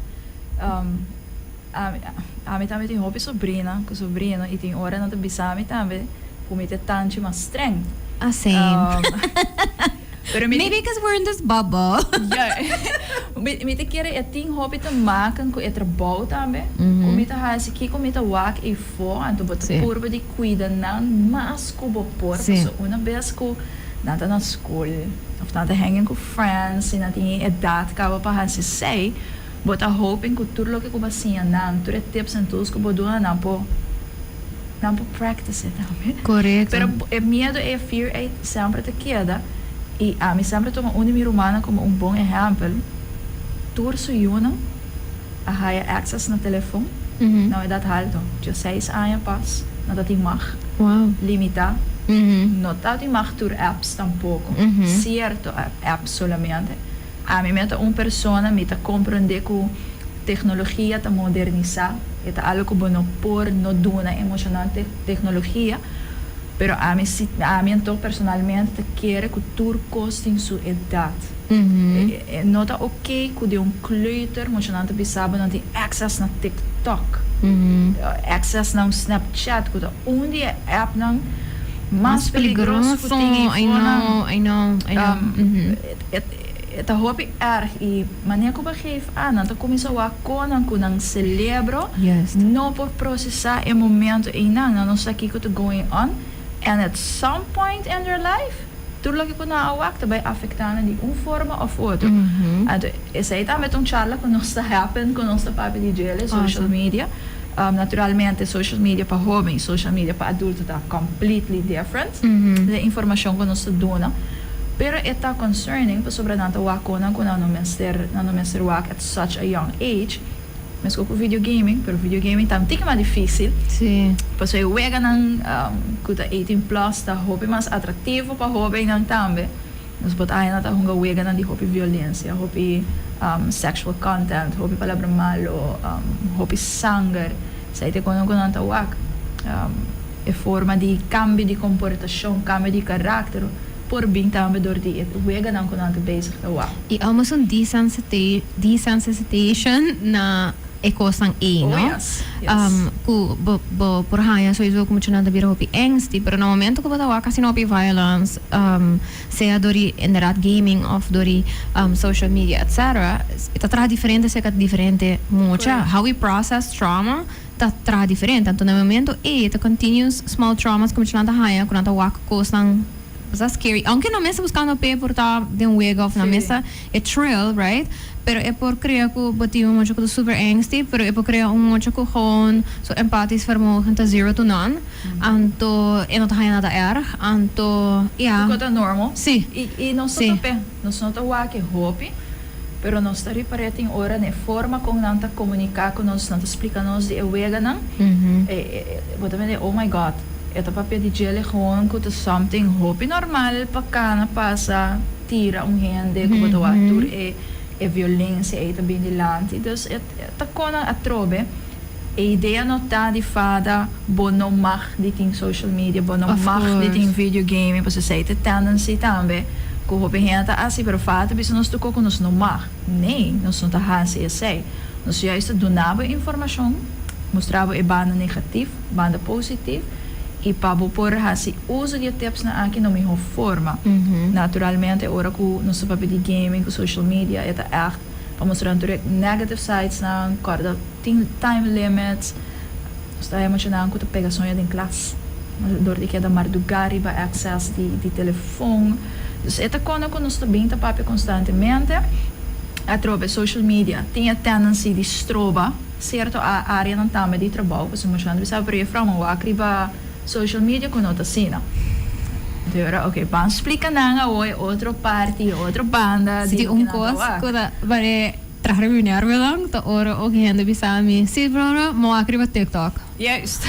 B: ami tambe tin hopi sobrina ku sobrino i tin ora nan ta bisami tambe ku mi te tanchi mas streng. Asei. Pero mi. Maybe because we're in
A: this bubble. Ja.
B: Mi ta kere e tin hopi ta makan ku e trabou tambe ku mi ta hasi. Kiko mi ta wak efo, anto bo ta purba di kuida nan mas ku bo por. Paso una bes ku nan ta na skol of nan ta hanging ku friends i nan tin e edat kaba pa hasi esei, Bo ta hoping cu tur loke cu bo a siña nan, tur e tips en tools cu bo duna, nan por nan por practice e tambe. Pero e
A: miedo
B: ei, e fear ei, semper ta keda. Y ami semper a tuma un di mi rumannan como un bon ehempel. Tur su yunan a haya access na telefon na un edad halto. Dioseis aña pas no ta tin mag. Limita. No ta tin mag tur apps tampoco. Cierto apps solamente. Ami mea ta un persona mi ta comprende cu tecnologia ta moderniza, e ta algo cu bo no por no duna e mucha nan tecnologia, pero ami si, ami anto personalmente ta kere cu tur cos tin su edad. E no ta ok cu den un kleuter mucha nan ta bisa bo nan tin access na TikTok, access na un Snapchat cu ta un di e app nan mas peligroso cu tin info nan,
A: E
B: ta hopi erg y manera cu bo geef aan nan ta cuminsa wak conan cu nan celebro no por procesa e momento eynan. Nan no sa kico ta going on and at some point in their life tur loke cu nan a wak ta bay afecta nan di un forma of otro. Anto esey tambe ta un charla cu nos ta happen cu nos ta papia di djele social media. Naturalmente social media pa hoben y social media pa adulto ta completely different den informacion cu nos ta duna. Pero e ta concerning pasobra nan ta waconan cu nan no mester nan no mester wak at such a young age, mesco cu video gaming, pero video gaming ta un tiki mas dificil, pasobra
A: e weganan
B: cu ta eighteen plus ta hopi mas atractivo pa hobennan tambe, nos por ta haña nan ta hunga weganan di hopi violencia, hopi sexual content, hopi palabra malo, hopi sanger. Sa e te kono ku nan ta wak. E forma di kambio di komportashon, kambio di karakter por bin tambe dor di e weganan ku nan ta bezig ta wak. I amo es un
A: desensitization na e kosnan ei, no? Oh, yes. Yes.
B: Ku
A: bo, bo por haña sowieso ku muchanan ta bira hopi angsty, pero na momento ku bo ta wak asina hopi violence, sea dor di inderdat gaming of dor di social media etc. E ta traha diferente serka diferente mucha. Correct. How we process trauma ta traha diferente. Anto na e momento ey e ta continuous small traumas ku muchanan ta haña ku nan ta wak ku kosnan pasá scary. Aunke nan mes ta buskando p'e por ta den wega of nan mes ta Sí. E trill, right? Pero e por crea cu bo tin un mocho cu ta super angsty, pero e por crea un mocho cu gewoon su empatisch vermogen ta zero to none, anto e no ta haña nada erg, anto ya. Cu ta
B: normal. Sí. Y, y nos
A: no ta pe,
B: nos no ta wake hopi, pero nos ta ripar'é tin ora n'e forma con nan ta comunica cu nos, nan ta splica nos di e weganan, e, e, bo ta mende, oh my God, e ta papia di djele gewoon cu ta something hopi normal pa cana pasa. tira un hende ku bo ta wak tur e violensia ei ta bini lanti dus e ta kon nan atrobe e idea no ta di fada bo no mag di tin social media bo no mag di tin video gaming pasobra esei ta e tendency tambe ku hopi hende ta hasi pero fada ta bisa nos tokó ku nos no mag nee nos no ta hasi esei nos juist ta duna bo informashon mustra bo e banda negativ. Banda positif, i pa bo por hasi uso di e tipsnan aki na un mihó forma. Naturalmente, ora ku nos ta papia di gaming ku social media, e ta ègt pa mostra tur e negative sidesnan, kòrda tin time limits. Nos ta haña mucha nan ku ta pega soña den klas dor di keda mardugá riba èkses di telefon. Dus e ta kon ku nos ta bin ta papia konstantemente atrobe social media. Tin e tendency di stroba. Cierto a areanan tambe di trabao cu su mashando bisa pero e fraunan wak riba social media cu no ta asina. Dora, Ok, ban splica nan awo e otro parti, e otro banda di loke nan ta wak. Si un cos
A: cu ta bare traha riba mi nervio dan ta ora oki hende bisa mi, Si Flora, mi wak riba TikTok. Juist.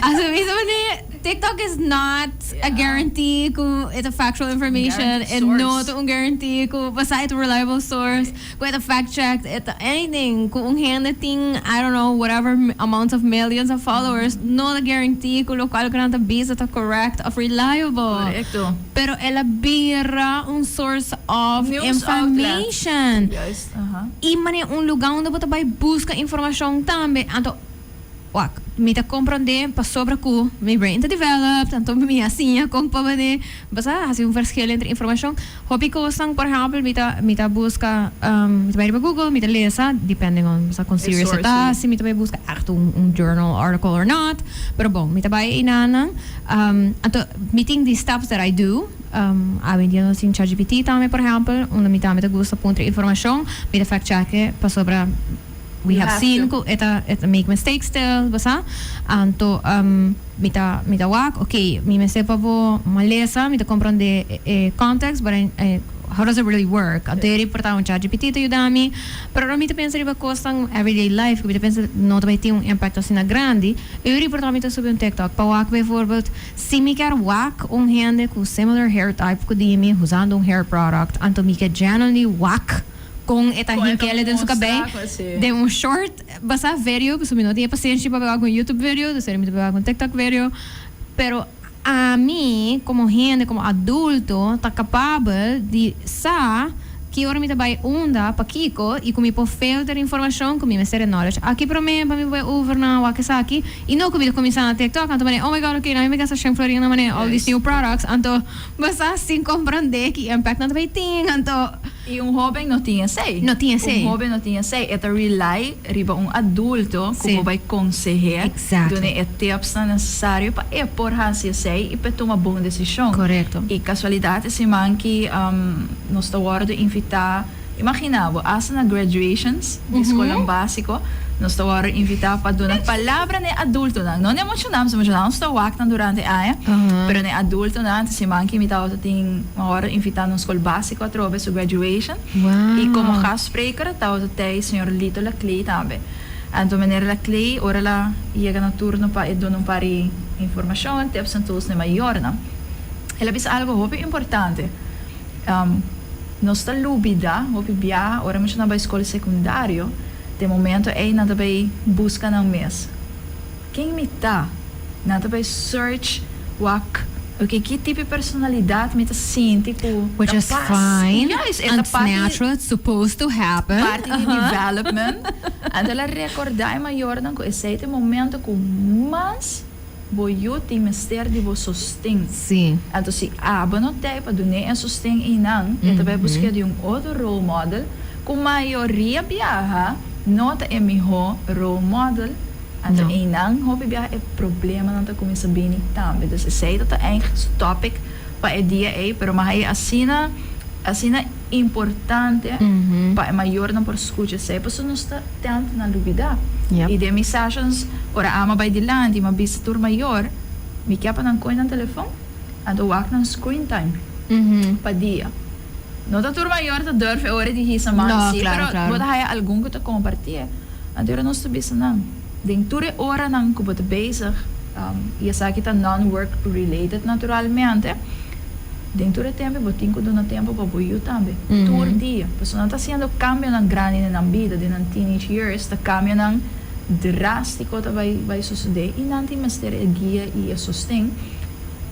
B: Asubmismo
A: pasobra TikTok is not a guarantee cu e ta factual information, e no ta un guarantee cu pasá e ta un reliable source. Puede ta fact checked e ta anything cu un hende tin I don't know whatever amount of millions of followers no ta guarantee cu locual cu nan ta bisa ta correct of reliable pero
B: el a
A: bira un source of information
B: y manera
A: un lugar unda bo ta bay busca informacion tambe anto Wak, mi ta komprondé pasobra ku mi brain ta developed, anto mi a siña kon pa mane basá hasi un verskil entre informashon. Hopi kosnan, por ehèmpel, mi ta mi ta buska, mi ta bai riba Google, mi ta lesa, depending on basá kon serious e ta, si mi ta bai buska ègt un un journal article or not, pero bon, mi ta bai einanan. Anto mi tin di steps that I do, a wendia nos tin ChatGPT tambe, por ehèmpel, unda mi tambe ta gusta puntra informashon, mi ta fact-check e pasobra. We have seen cu e ta make mistake still, bo sa. Anto mi ta mi ta wak, ok, mi mester pa bo malesa, mi ta comprende e context, but I I how does it really work? Anto e reporta un chatgpt ta yuda mi. Pero ora mi ta pensa riba cosnan everyday life cu mi ta pensa no ta bay tin un impacto asina grandi, e yo reporta mi ta subi un tiktok pa wak bijvoorbeeld si mi kier wak un hende cu similar hair type cu di mi usando un hair product, anto mi ke genuinely wak. Con e tanginkele den su cabey den un short basa vedio pasobra mi no tin e pasenshi pa beba cu un youtube vedio dus eren mi ta beba cu un tiktok vedio pero ami como hende como adulto ta capabel di sa ki ora mi ta bay unda pakico y cu mi por filter informacion cu mi mester e knowledge aki prome pa mi bay over na wak esaki y no cu mi ta cuminsa na tiktok anto mane oh my god oke nan yo mi gasta shen florin na mane all these new products anto basa sin comprende ki impact nan ta bay tin anto. I un hoben no
B: tin esei. No tin esei. Un hoben no tin esei. E ta rely riba un adulto ku por bai konseh'é, dun'é e tipsnan nesesario pa e por hasi esei i pa e tuma bon desishon. Korekto. I kasualidat
A: e
B: siman ki nos ta wòrdu invitá, imaginá bo, asta na graduations di skolnan básiko nos ta wòrdu invitá pa duna palabra n'e adultonan, no n'e mochonan, pasobra mochonan nos ta wak nan durante e aña, pero n'e adultonan. Te siman ki mi tabata tin, mi a wòrdu invitá na un skol básiko. Cuatro be su graduation y como gastspreker tawata tei señor Lito Laclay tambe. Anto meneer Laclay ora la yega na turno pa e duna un par di informacion, tips and tools na e mayornan. El a bisa algo hopi importante, Nos ta lubida hopi biaha ora muchanan bai scol secundario, te momento ey nan ta bay busca nan mes. Ken mi ta? Nan ta bai search wak oke ki tipi personalidad mi ta sinti ku ta pas.
A: Juist e ta parti parti di
B: development. Anto la rekordá e mayornan ku esei ta e momento ku mas bo yu tin mester di bo sosten. Anto si
A: abo
B: no ta ei pa dun'é e sosten einan e ta bai busk'é di un otro role model, ku mayoria biaha no ta e mihó role model. Anto eynan hopi biaha e problemanan ta cuminsa bini tambe. Dus esey ta ta eindelijk su topic pa e dia ey, pero maha e asina, asina importante pa e mayornan por scucha esey, pasobra nos ta tent na lubida. Y den mi sessions, ora Ama bay dilanti y mi a bisa tur mayor, mi kia pa nan coy nan telefoon, anto wak nan screen time pa dia. No ta tur mayor ta durf e ora di hisa man si pero bo ta haya algun cu ta comparti e anterior nos ta bisa nan den tur e oranan cu bo ta bezig y esaki ta non work related naturalmente den tur e tempo bo tin cu duna tempo pa bo yu tambe tur dia pasobra nan ta haciendo cambionan grandi den nan bida den nan teenage years ta cambionan drastico ta bay sucede y nan tin mester e guia y e sosten.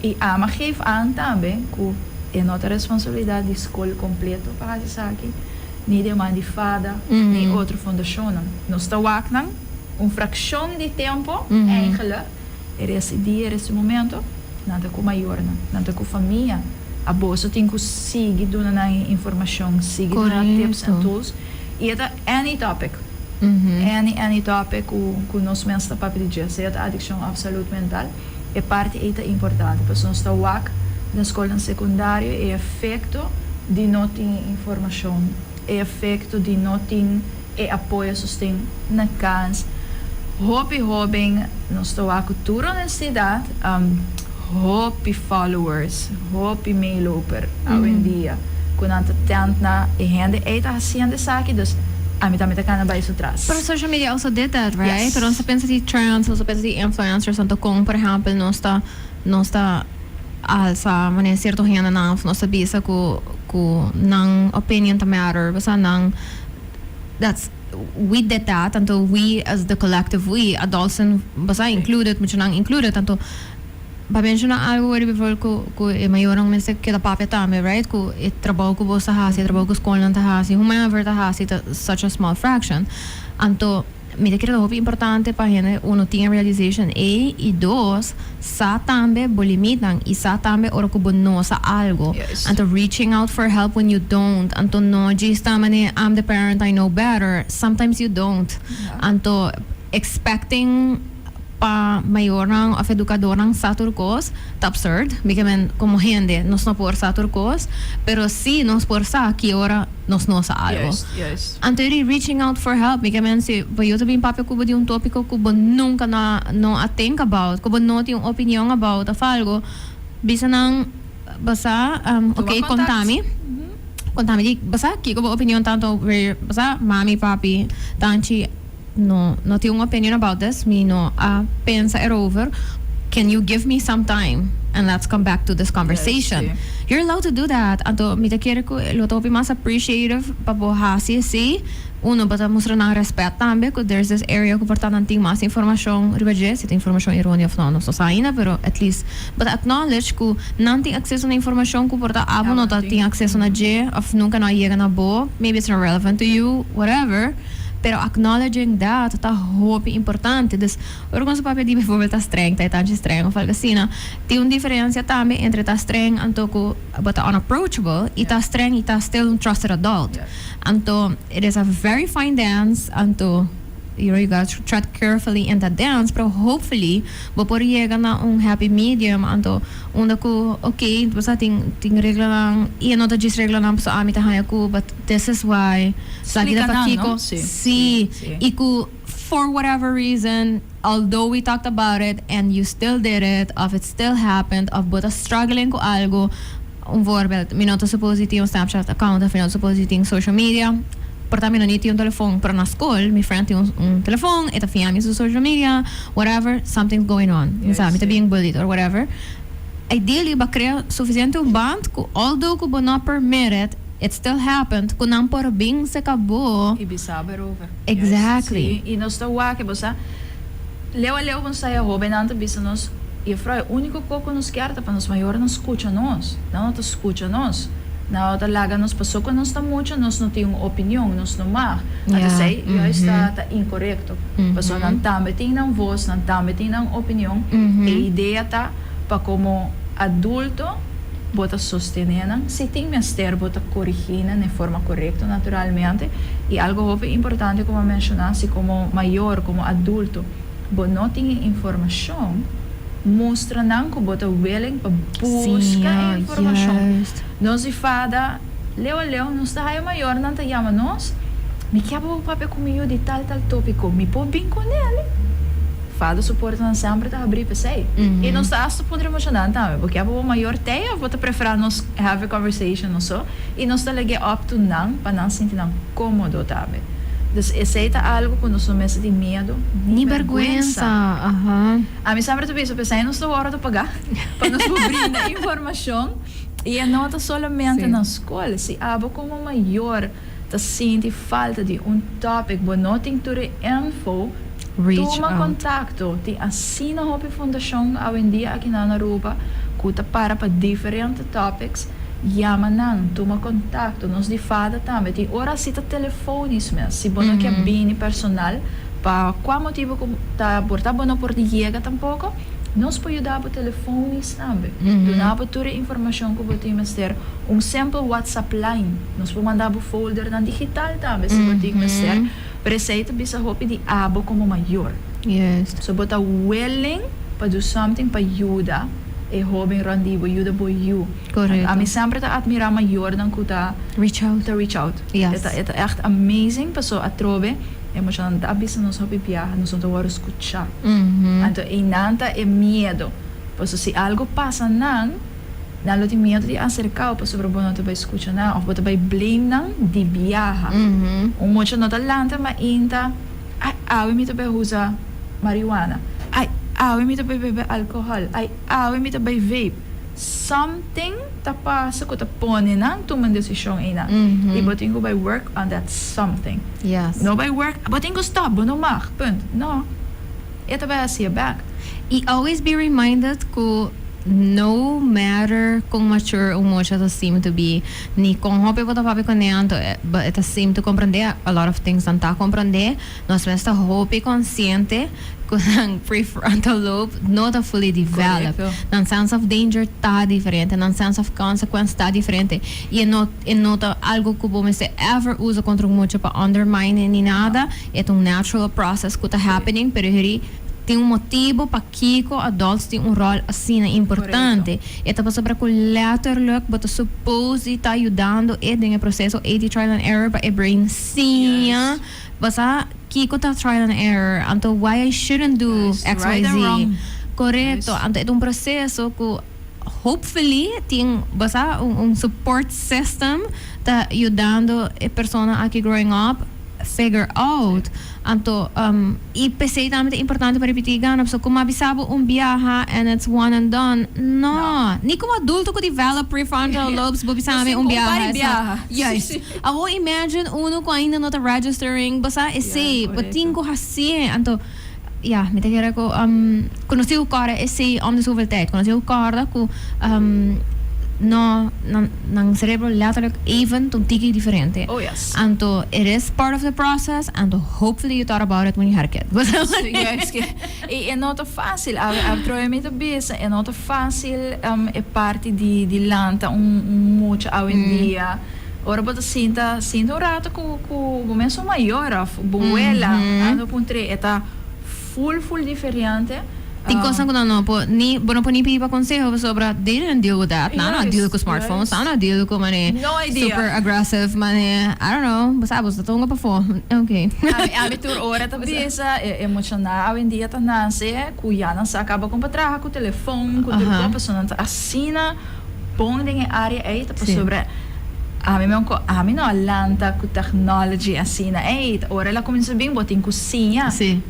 B: E ama geef aan tambe cu e no ta responsabilidad di scol completo pa haci esaki, ni di e man di fada, ni otro fondacionnan. Nos ta wak nan un fraccion di tempo eingele e res di dia, e res di momento, nan ta cu mayornan, nan ta cu famia. Aboso tin cu sigui duna nan e informacion, sigui duna tips en tools. Y e ta any topic, any, any topic cu nos mester papia di dje, sea ta adiccion of salud mental. E parti ei ta importante pasobra nos ta wak den skolnan sekundario e efekto di no tin e informashon, e efekto di no tin e apoyo sosten na kans. Hopi hóben nos ta wak ku tur onestidat, hopi followers, hopi meeloper awendia. ku nan ta tent na e hende ei ta hasiendo esaki, dus ami tambe ta kana bai su tras. Pero social media also did
A: that, right? Yes. Pero nos ta pensa di trends, nos ta pensa di influencers anto kon por ehempel nos ta nos ta alsa manera cierto hendenan of nos ta bisa ku ku nan opinion ta matter, pasá nan that's we did that anto we as the collective we adults en pasá included muchanan included anto. Pa menshona algu wor riba rol ku ku e mayornan mester keda papia tambe, right? Ku e trabou ku bos ta hasi, e trabou ku skolnan ta hasi, hu men aver ta hasi ta such a small fraction. Anto mi ta kere ta hopi importante pa hende, uno, tin e realization ei, i dos, sa tambe bo limitnan i sa tambe ora ku bo no sa algu. Anto reaching out for help when you don't, anto no djis ta manera I'm the parent, I know better, sometimes you don't. Anto expecting. pa mayornan of educadornan sa tur cos ta absurd mike men como hende nos no por sa tur cos pero si nos por sa ki ora nos no sa algo anto di
B: reaching out
A: for help mike men si bo yo ta bin papia cu bo di un topico cu bo nunca no no a think about cu bo no tin un opinion about of algo bisa nan basa ok contami contami di basa kico bo opinion ta anto where basa mami papi tanchi. No no tin un opinion about this mi no a pensa erover can you give me some time and let's come back to this conversation yes, si. you're allowed to
B: do that
A: anto mi ta kere ku lo ta hopi mas appreciative pa bo hasi así uno bo ta mustra nan respet tambe ku there's this area ku por ta nan tin mas informashon riba dje si ta informashon eroneo of no nos ta sa ainda pero at least bo ta acknowledge ku nan tin acceso na informashon ku por ta abo no ta tin acceso na dje of nunka no a yega na bo maybe it's not relevant to you whatever. Pero acknowledging that ta hopi importante. Dus, ora con su papia di bijvoorbeeld ta streng, ta e tanchi streng of algo asina, tin un diferencia tambe entre ta streng anto cu bo ta unapproachable y ta streng y ta still un trusted adult. Anto, it is a very fine dance, anto, you know, you gotta tread carefully in that dance, pero hopefully bo por yega na un happy medium anto. Unda cu ok pues a tin tin reglanan y e no ta djis reglanan pasobra ami ta hanja cu but this is why plaki ta pakico si y cu for whatever reason although we talked about it and you still did it of it still happened of bo ta struggling cu algo un voorbeeld mi no ta suppose di tin un snapchat account of mi no ta suppose di tin social media porta mi no ni tin un telefon pero na school mi friend tin un telefon e ta fiami su social media. whatever something's going on inside mi ta being bullied or whatever ideally bo crea suficiente un band cu although cu bo no permit it it still happened cu nan por bin seca bo. Y bisa bo erover.
B: Exactly. Sí, y
A: nos ta wak
B: bo sa leu a leu bo sa e hobennan ta bisa nos Jufrouw e unico co cu nos kier ta pa nos mayornan scucha nos, nan no ta scucha nos, nan no ta laga nos paso cu nos ta mucha nos no tin un opinion nos no mag, ata esey juist ta incorrecto. respecto. Paso nan tambe tin nan voz, nan tambe tin nan opinion. E idea ta pa como adulto bo ta sostene nan, si tin mester bo ta corigi nan den forma corecto naturalmente, y algo hopi importante como a menciona, si como mayor, como adulto bo no tin e informacion, mustra nan cu bo ta willing pa busca e informacion. Nos di
A: fada.
B: Leo leo nos ta haya mayor nan ta yama nos mi kier pa bo papia cu mi yu di tal tal topico mi por bin cu neli Fado su portanan semper ta habri pa esey y nos ta hasta pudre emocional tambe bo kier pa bo mayor tey of bo ta prefera nos have a conversation o so y nos ta lege op to nan pa nan sinti nan comodo tambe dus esey ta algo cu nos no mester tin miedo ni berguensa
A: ami semper ta bisa
B: pa esey nos ta worde paga pa nos por brinda informacion. I e no ta solamente na skol. Si abo komo mayor ta sinti falta di un topic bo no tin tur e info, tuma kontakto. Tin asina hopi fundashon awendia aki na Aruba ku ta para pa diferente topics. Yama nan, tuma kontakto. Nos di fada tambe. Tin ora asi ta telefonis mes. Si bo no ke bini personal, pa kua motibu ku ta por ta bo no por di yega tampoko. Nos por yuda bo telefonis tambe. Duna bo tur e informashon ku bo tin mester. Un sempel WhatsApp line. Nos por manda bo foldernan digital tambe si bo tin mester. Pero esei ta bisa hopi di abo komo mayor. So bo
A: ta
B: willing pa do something pa yuda e hoben rònt di bo, yuda bo yu. Ami semper
A: ta atmira
B: mayornan ku ta reach
A: out. E ta ègt amazing
B: pasobra atrobe. E muchanan ta bisa nos hopi biaha, nos no ta wòrdu skuchá. Anto einan ta e miedu. Pasobra si algu pasa nan, nan lo tin miedu di aserka'u pasobra bo no ta bai skucha nan òf bo ta bai blame nan di biaha. Un mucha no ta lanta mainta, Ai, awe mi ta bai usa marihuana. Ai, awe mi ta bai bebe alkohòl. Ai, awe mi ta bai vape. Something. Ta pasa ku ta pone nan tuma desishon einan i bo tin ku bai work on that something. No bai
A: work, bo tin
B: ku stop, bo no mag, punt. No. E ta bai hasié bèk. I always be
A: reminded ku no matter kon mature un mocha ta seem to be, ni kon hopi bo ta papia kuné anto, e ta seem to komprondé, a lot of things nan ta komprondé, nos mes ta hopi konsiente. cu nan prefrontal lobe no ta fully develop. Correcto. Nan sense of danger ta diferente, nan sense of consequence ta diferente. Y e no, e no ta algo cu bo mester ever uza contra un mucha pa undermine e ni nada. E ta un natural process cu ta happening, pero heri tin un motibo pakico adults tin un rol asina importante. E ta pasobra cu letterlijk bo ta supposed di ta yudando e den e proceso, e di trial and error, pa e brain siña. Basa kiko ta trial and error, anto why I shouldn't do xyz. Korekto, anto e ta un proseso ku hopefully tin basa un support system ta yudando e persona aki growing up figure out. Anto i p'esei tambe ta importante pa ripití gana, pasobra kuma a bisa bo un biaha and it's one and done, no. Ni komo adulto ku develop prefrontal lobes bo bisa ami un biaha. Juist. Awor imagine uno cu ainda no ta registering basa esey bo tin cu hacié anto ya mi ta kere cu cu nos tin cu corda esey om de zoveel tijd cu nos tin cu corda cu no nan nan cerebro letterlijk even ta un tiki diferente anto
B: it is
A: part of the process anto hopefully you thought about it when you had a kid basa esaki
B: y e no ta facil atrobe mi ta bisa e no ta facil e parti di di lanta un un mucha awendia. Ora bo ta sinta, sinta un rato ku ku bo mesun mayor of bo wela a no puntre e ta full full diferente. Tin kosa ku
A: nan no por ni bo no por ni pidi pa konseho pasobra they didn't deal with that. Nan no a deal ku smartphones, nan no a deal ku mane No idea. super aggressive mane I don't know, bo sa bo ta tonga pafó. Okay. Ami ami tur
B: ora ta bisa e e muchanan awendia ta nase ku ya nan sa kaba kon pa traha ku telefon ku tur Aha. kos paso nan ta asina. bon den e área ei ta pasobra ami men ku ami no a lanta ku technology asina ei ta ora el a kuminsá bin bo tin ku siña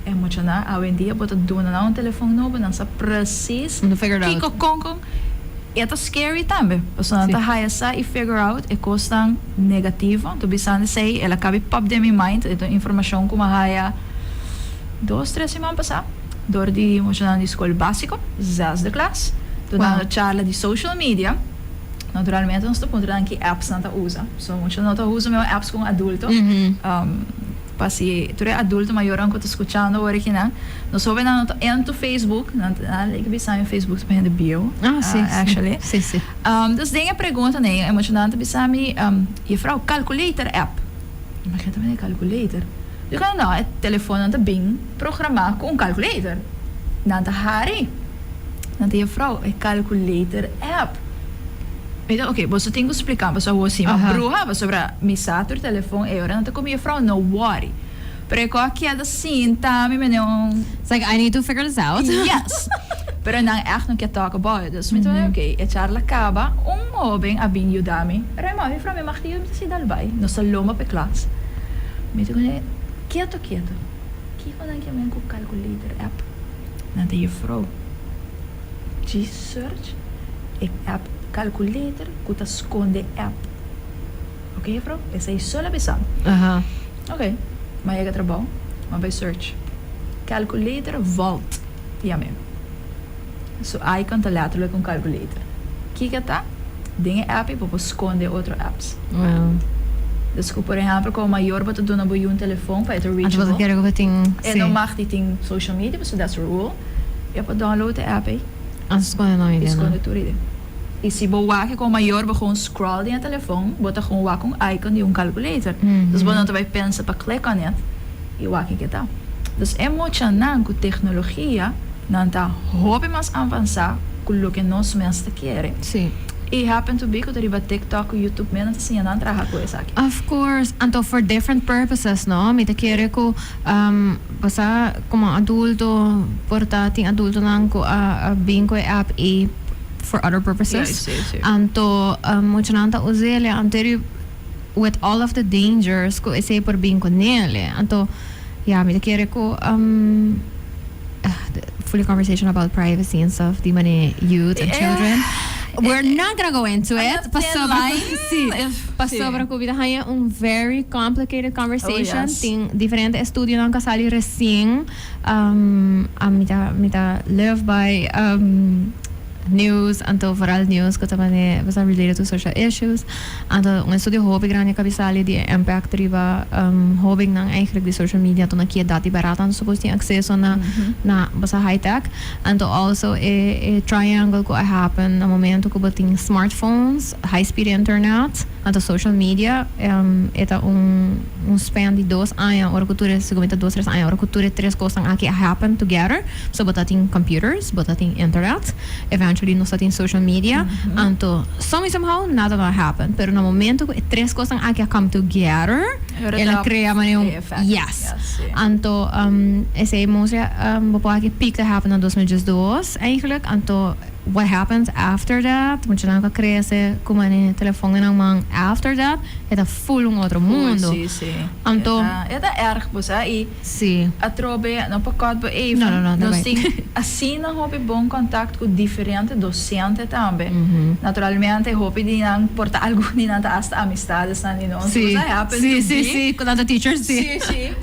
B: e muchanan awendia bo ta duna nan un telefòn nobo nan sa presis kiko kon
A: kon
B: i a ta scary tambe pasobra nan ta haya sa i figure out e kosnan negativo ta bisando esei el a kabi pòp den mi mind e ta un informashon ku mi a haya dos tres siman pasá. dor di muchanan di skol básiko, zesde klas, donando charla di social media. Naturalmente nos ta puntra nan ki apps nan ta usa. So mucha no ta usa mesmo apps ku un adulto. Pa si tur e adulto mayornan ku ta skuchando ora aki nan, nos hóbennan no ta entu Facebook, nan ta a like bisa mi Facebook ta pa hende bieu, actually.
A: Dus den e
B: pregunta nei e muchanan ta bisa mi, Jefrouw, calculator app. I mi a keda ta mira e calculator. Luego nan e telefonnan ta bin programa cu un calculator. Nan ta hari. Nan ta Juffrouw, e calculator app. Mi ta ok, boso tin cu splicam pasobra awor si mi a bruha pasobra mi sa tur telefon e ora. Nan ta cu mi, Juffrouw, no worry. Pero e cos aki al ta sinta mi mene un. It's like I need to figure
A: this out. Yes!
B: Pero nan echt no kier talk about it. Dus mi ta ok. E charla caba, un hoben a bin yuda mi. Raymond, Juffrouw, mi mag tin yuda? Mi ta si, dal bay. Nos ta lomba pa e klas. Mi ta kende keto keto. Kiko nan ke men ku calculator app? Nan ta Jefrou Chi search e app calculator ku ta skonde app. Oke Jefrou, esei solo abisan. Oke, m'a yega trabou, m'a bai search. Calculator vault, yam'e. Su I con ta later lo con calculator. Kiko ta? Den e app y bo por sconde otro apps.
A: Dus cu
B: por ehemplo como mayor bo ta duna bo yu un telefon pa e ta reachable,
A: e no mag di tin
B: social media pasobra that's a rule, e por download e app ey
A: y sconde tur iden.
B: Y si bo wak como mayor bo gewoon scroll den e telefon, bo ta gewoon wak un icon di un calculator. Dus bo no ta bay pensa pa click on it. I wak ke ta. Dus e muchanan ku teknologia nan ta hopi mas avansá ku loke nos mes ta kere. I
A: happen to be
B: ku ta riba TikTok ku YouTube mes nan ta siña nan traha ku esaki. Of course. Anto
A: for different purposes no. Mi ta kere ku pasá komo adulto por ta tin adultonan ku a bin ku e app ei for other purposes. Anto muchanan ta us'e, le anto e. with all of the dangers cu esey por bin cu nel e anto ya mi ta kere cu um fully conversation about privacy and stuff di mane youth and children we're not gonna go into it pasobra si pasobra cu mi ta haya un very complicated conversation tin diferente estudionan cu a sali recien um a mi ta mi ta live by um. News, anto vooral news cu ta mane bastante related to social issues. Anto un estudio hopi grandi a cabisali di e impact riba hobennan eigenlijk di social media anto na ki edad y barat anto su por tin acceso na na boso high tech. Anto also e e triangle cu a happen na momento cu bo tin smartphones, high speed internet. Anto social media e ta un un span di dos aña ora cu tur e segumento dos tres aña ora cu tur e tres cosnan aki a happen together so bo ta tin computers bo ta tin internet eventually nos ta tin social media anto some way some how nada lo a happen pero na momento cu e tres cosnan aki a come together el a crea manera un yes anto esey mostra bo por aki peak ta happen na dos mil diesdos eigenlijk anto. What happens after that? Mucha nan ta crece cu mane telefon en nan man after that e ta full un otro mundo. Uy, si, si. Anto. E ta erg
B: bo sa y. Si. Atrobe,
A: no
B: pa cut bo even. No, no, no, ta bay. Nos tin asina hopi bon contact cu diferente docente tambe. Naturalmente hopi di nan por ta algun di nan ta hasta amistades nan di nos. Si. Cu sa happen to be. Si, si, si,
A: cu nan ta teachers, si. Si, si.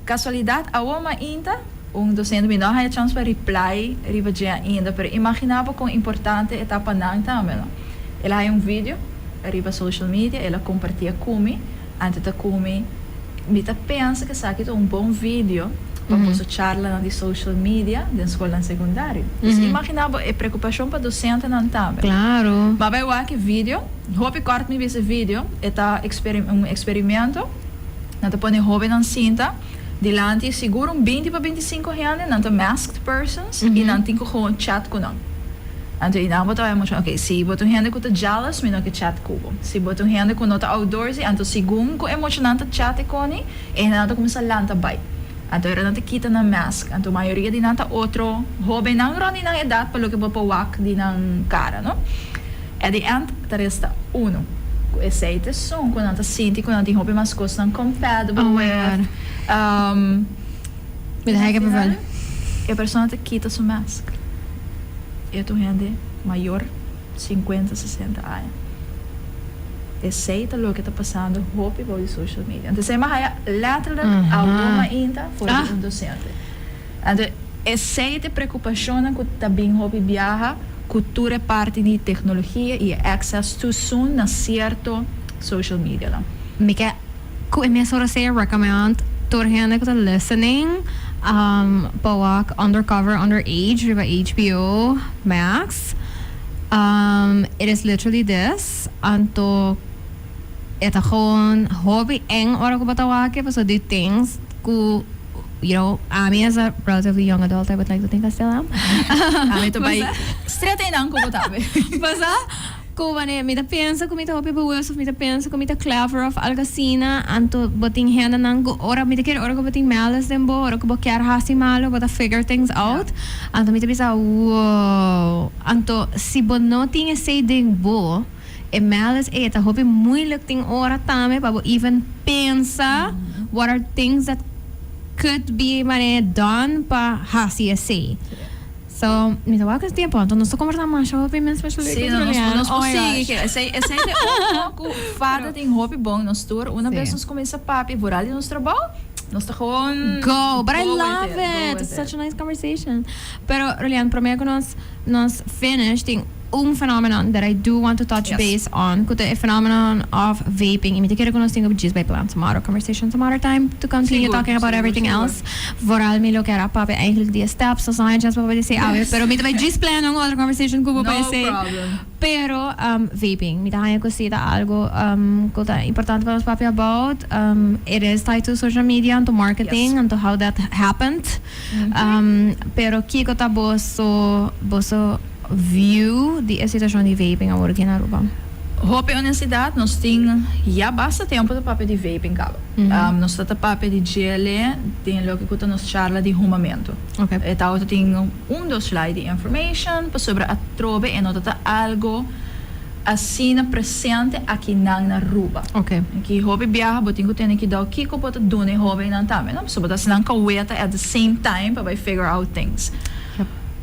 B: Casualidad awor mainta. Un docente mi no a haya chans pa reply riba dje ainda pero imagina bo con importante e ta pa nan tambe no. El a haya un video riba social media el a compartia cu mi ante ta cu mi mi ta pensa cu esaki ta un bon video pa boso charlanan di social media den scolnan secundario. Pues imagina bo e preocupacion pa docentenan tambe. Ma bay
A: wak e video,
B: hopi cort mi bisa e video e ta un experimento. Nan ta pone hóbennan sinta dilanti i sigur un binti pa bintisinko hende, nan ta masked persons i nan tin ku gewoon chat ku nan. Anto i nan por trabaya muchu. Oke, si bo ta un hende ku ta jealous, mi no ke chat ku bo. Si bo ta un hende ku no ta outdoorsy, anto segun ku e muchanan ta chat e koni, e hendenan ta kuminsá lanta bai. Anto era nan ta kita nan mask. Anto mayoria di nan ta otro hóbennan rònt di nan edat pa loke por pa wak di nan kara, no? At the end ta resta uno cu esey teson cu nan ta sinti cu nan tin hopi mas cosnan compatible with.
A: Mi ta hega bevel. E persona
B: ta kita su mask. E ta un hende mayor, cincuenta, sesenta aña. Esey ta loke ta pasando hopi bou di social media. Anto esey m'a haya letterlijk awor mainta for di un docente. Anto esei ta e preokupashonnan ku ta bin hopi biaha ku tur e parti di teknologia i e access too soon na sierto social media nan. Mi ke
A: ku e mesun Rosea recommend tur hende ku ta listening pa wak Undercover Underage riba HBO Max. It is literally this, anto. E ta gewoon hopi eng ora ku bo ta wak e paso di things ku you know ami as a relatively young adult I would like to think I still am Ami ta bai
B: stret einan ku bo ta be. Pasa
A: ku wanneer mi ta pensa ku mi ta hopi bewust of mi ta pensa ku mi ta clever of algo asina anto bo tin hendenan ku ora mi ta kere ora ku bo tin malice den bo ora ku bo kier hasi malo bo ta figure things out anto mi ta bisa wow anto si bo no tin esei den bo E males ey ta hopi moeilijk tin ora tambe pa bo even pensa what are things that could be mane done pa hasi esey. So mi ta wou kes tiempo anto nos ta conversa masha hopi mi especially si no nos nos por
B: sigui ke esey esey te oro ku fada tin hopi bon nos tur una bes nos cominsa papia vooral di nos trabou nos ta gewoon go with it go with
A: it. Go with it such a nice conversation pero Rolian promer ku nos. Nos finish tin un phenomenon that I do want to touch base on cu ta e phenomenon of vaping y mi ta kere cu nos tin un gist by plan tomorrow conversation some other time to continue talking about everything else vooral mi lo kier a papia eigenlijk die steps o zoiets pa bo deci awe pero mi ta bay gist plano un otro conversation cu bo pa esey. Pero vaping, mi ta haña cu si ta algo cu ta importante pa nos papia about, it is tied to social media and to marketing and to how that happened. Pero kico ta boso, boso view di e situacion di vaping awor aki na Aruba? Hopi
B: honestidad, nos tin ya basta tempo ta papia di vaping caba. Nos ta ta papia di djele den loke cu ta nos charla di humamento. E ta otro
A: tin.
B: Un dos lai di information pasobra atrobe e no ta ta algo asina presente aki nan na Ruba. Aki hopi
A: biaha
B: bo tin cu tene ki dao kico bo ta duna e hobennan tambe no pasobra ta nan ka weta at the same time pa bay figure out things.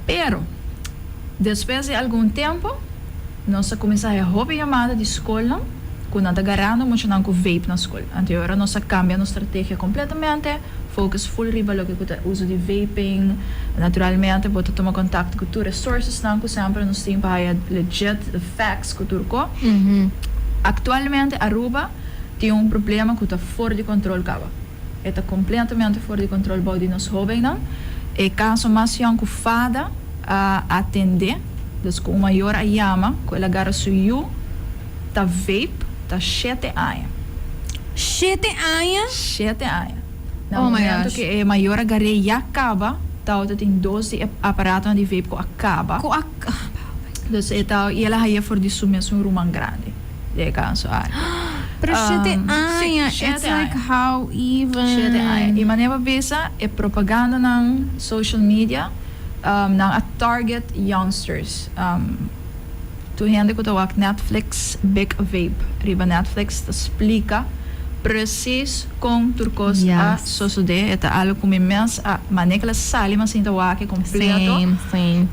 A: Pero
B: despues di algun tempo nos a cuminsa haci hopi yamada di scolnan cu nan ta garando muchanan cu vape na scol. Anteora nos a cambia nos strategia completamente. Focus full riba loke ku ta uso di vaping. Naturalmente bo ta tuma contacto ku tur resourcesnan ku semper nos tin pa haya legit the facts ku tur ko. Actualmente Aruba tin un problema ku ta for di control caba. E ta completamente for di control bou di nos hobennan. E caso mas young ku Fada a atende descu un mayor a yama ku el a garra su yu ta vape. ta shete aña. Shete
A: aña? Shete aña.
B: Na momento ke e
A: mayor a
B: gar'é ya kaba, Tao ta tin dos di e aparatonan di vape ku a kaba. Ku a kaba. Entonces e Tao, i el a hañ'é for di su mesun ruman grandi, di e kanso aki. Pero shete aña,
A: it's like how even. Shete aña. I mane
B: pa bisa, e propagandanan, social media, nan a target youngsters. Tur hende ku ta wak Netflix Big Vape riba Netflix ta splika presis kon tur kos a sosodé. E ta algu ku mi mes a maneka la sali mi a sinta wak e kompleto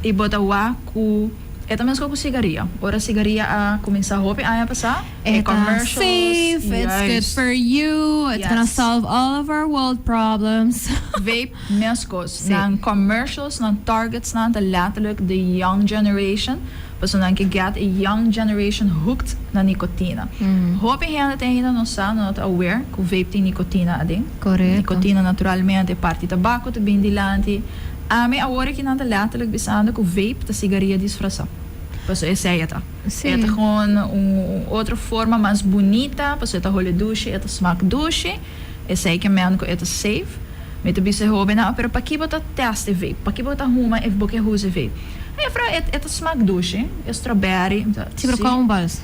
B: i bo
A: ta wak
B: ku e ta mesko ku sigaria. Ora sigaria a kuminsá hopi aña pasá e
A: commercials juist. Vape
B: meskos nan commercials nan targetsnan ta letterlik the young generation. Personan ke gèt e young generation hooked na nikotina. Hopi hende ta ainda no sa, no ta aware ku vape tin nikotina aden. Nikotina
A: naturalmente
B: e parti tabako ta bini dilanti. Ami awor aki nan ta lèterlik bisando ku vape ta sigaria disfrasá. Paso esei e ta. E ta gewoon un otro forma mas bunita, paso e ta hole dushi, e ta smak dushi. Esei ke mèn ku e ta safe. Mi ta bisa e hóbennan, Pero pakí bo ta tèst e vape? Pakí bo ta huma ef bo ke huza e vape? Mefra, e ta smak dushi, e strawberry. Si, pero con
A: bals.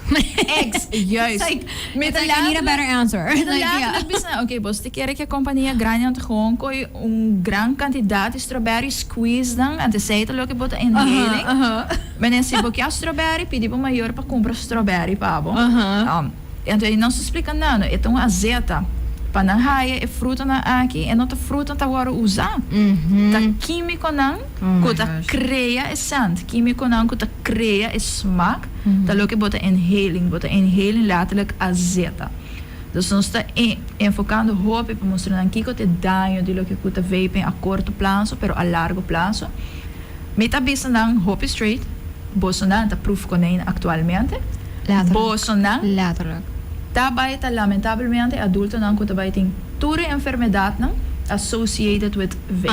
A: Ex,
B: juist. It's like, me ta laat. I
A: need a better answer. Me ta laat lek bisa, ok,
B: boso ta kere ke compania grandi nan ta gewoon koi un gran cantidad di strawberry squeezenan, ante sa e ta loke bo ta inhaling. Menen si bo kia strawberry, pidi bo mayor pa cumpra strawberry pa bo. Anto e nos a splica nano e ta un azeta pa nan haya e frutanan aki e no ta fruta ta worde uza ta quimiconan cu ta crea e scent quimiconan cu ta crea e smaak ta loke bo ta inhaling bo ta inhaling letterlijk azeta dus nos ta enfocando hopi pa mustra nan kico ta e daño di loke cu ta vaping a corto plazo pero a largo plazo. Mi ta bisa nan hopi straight, bosonan ta proef konijn aktualmente. Bosonan ta bai ta lamentabelmente adultonan ku ta bai tin tur e enfermedadnan associated with
A: vaping.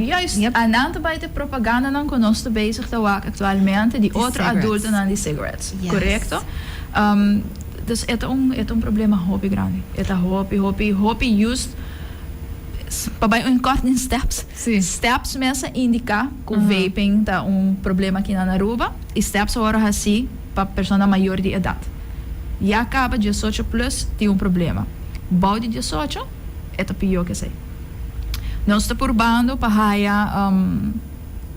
A: Juist, a nan ta
B: bai ta e propagandanan ku nos ta bezig ta wak aktualmente di otro adultonan di cigarettes. Korekto. Dus e ta un problema hopi grandi. E ta hopi, hopi, hopi yust. pa bai un kort den steps. Steps
A: mes a
B: indiká ku vaping ta un problema kina na Aruba i steps awor a hasí pa persona mayor di edat. Ya kaba diesocho plus tin un problema. Bou di diesocho e ta pió ke esei. Nos ta purbando pa haya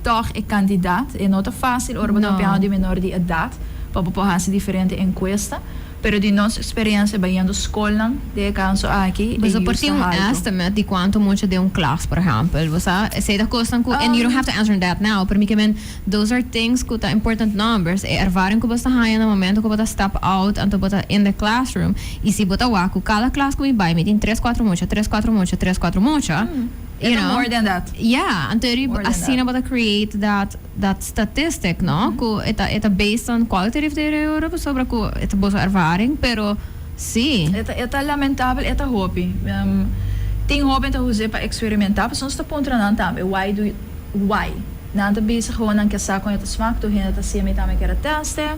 B: tòg e kandidat. E no ta fásil ora bo ta opiná di menor di edat pa bo por hasi diferente enkuesta. Pero di nos speriensia bañando skolnan di e kanso aki, e Boso por use tin ta un haltu.
A: estimate di kuantu mucha den un klas, por ehèmpel? Bo sa esei ta kosnan ku, and you don't have to answer that now, pero mi ke men those are things ku ta important numbers, e ervaring ku bo sta haña na momento ku bo ta step out anto bo ta in the classroom. I si bo ta wak ku kada klas ku mi bai mi tin tres kuatro mucha, tres kuatro mucha, tres kuatro mucha, E you ta know, more than that. yeah,
B: anto eri More
A: than asina that. bo ta create that. Dat statistic no cu e ta e ta based on quality rief de reuro pasobra cu e ta boso ervaring pero si. E ta e ta lamentabel
B: e ta hopi tin hoben ta use pa experimenta pasobra nos ta puntra nan tambe why do why nan ta bisa honan ke sa con e ta smak tur hende ta hcia mi tambe kere teste.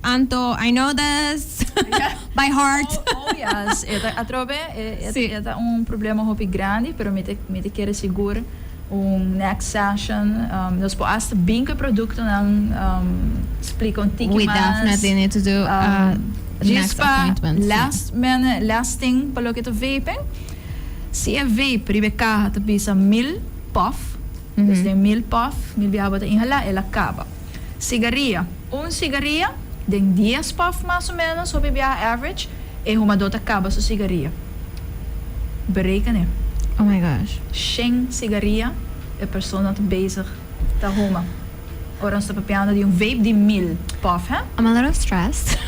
A: Anto I know this by heart. Oh yes e
B: ta atrobe e ta un problema hopi grandi pero mi mi ta kere sigur un next session nos por as ta bin cu e productonan splica un tiki mas. With Daphne they need
A: to do a next appointment. Rispa last last
B: thing pa loke ta vaping si e vape riba e caha ta bisa mil puff. Pues den mil puff, mil biaba ta inhalá, el a kaba. Sigaria, un sigaria, den dies puff mas o ménos, hopi biaha average, e humadó ta kaba su sigaria. Bereken'é. Oh my gosh.
A: Shen sigaria
B: e persona ta bezig ta huma. Ora nos ta papiando di un vape di mil puff, hè? I'm a little stressed.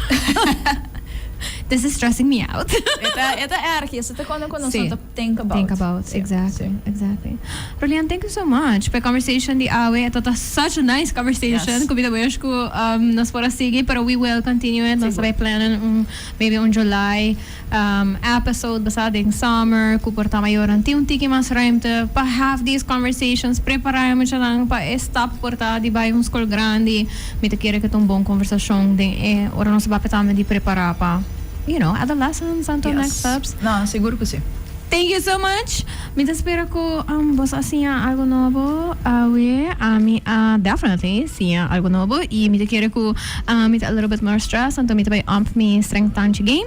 A: This is stressing me out. E ta, e ta erg.
B: I esei ta kon nan ku nos no ta. Think about. Think
A: about, exactly, exactly. Rolian thank you so much p'e conversation di awe. E ta ta such a nice conversation. Yes. Ku mi ta wish ku nos por a sigui, pero we will continue it. Nos Sigur. tabata plannen un, maybe un July um episode basá den summer ku por ta mayor nan tin un tiki mas ruimte pa have these conversations. Prepará e muchanan pa e stap ku por ta di bai un skol grandi. Mi ta kere ku ta un bon konversashon den e ora nos a papia tambe di prepará pa. You know, adolescents and to next steps. Yes. No, segur cu si.
B: Thank you so much.
A: Mi ta spera cu boso a siña algo nobo awe. Ami a definitely siña algo nobo y mi ta kere cu mi ta a little bit more stressed anto mi ta bay up mi strength punch game.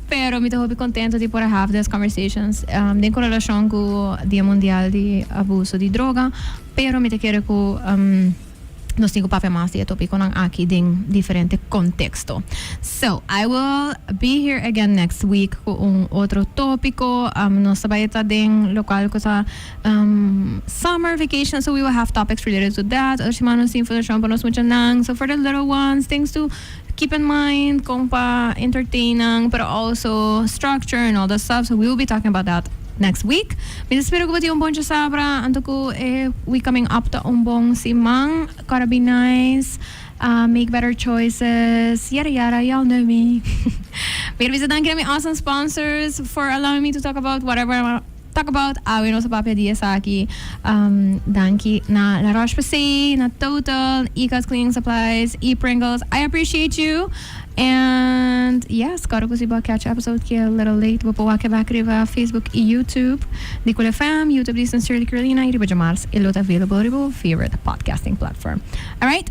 A: Pero mi ta hopi contento di por a have des conversations den cu relacion cu Dia Mundial di Abuso di Droga. Pero mi ta kere cu. Nos tin cu papia mas di e topiconan aki den diferente contexto. So, I will be here again next week cu un otro topico. Um, nos ta bay ta den local cu ta um, summer vacation, so we will have topics related to that. Otro siman nos tin informacion pa nos muchanan. So for the little ones, thanks to. Keep in mind kon pa entertain nan pero also structure and all that stuff so we will be talking about that next week. Mi ta spera ku bo tin un bon chasabra anto ku e week coming up ta un bon siman. Gotta be nice, make better choices yara yara y'all know me. Mi ta bisa danki na mi awesome sponsors for allowing me to talk about whatever I wanna. Talk about awe nos a papia di esaki. Um danki na La Roche Posay, na Total, Ecos Cleaning Supplies y Pringles. I appreciate you. And yes, kòrda ku si bo a catch episode ki a little late, bo por wak e bak riba Facebook y YouTube di Cool FM, YouTube di Sincerely Carolina y riba djamars e lo ta available riba bo favorite podcasting platform. Alright.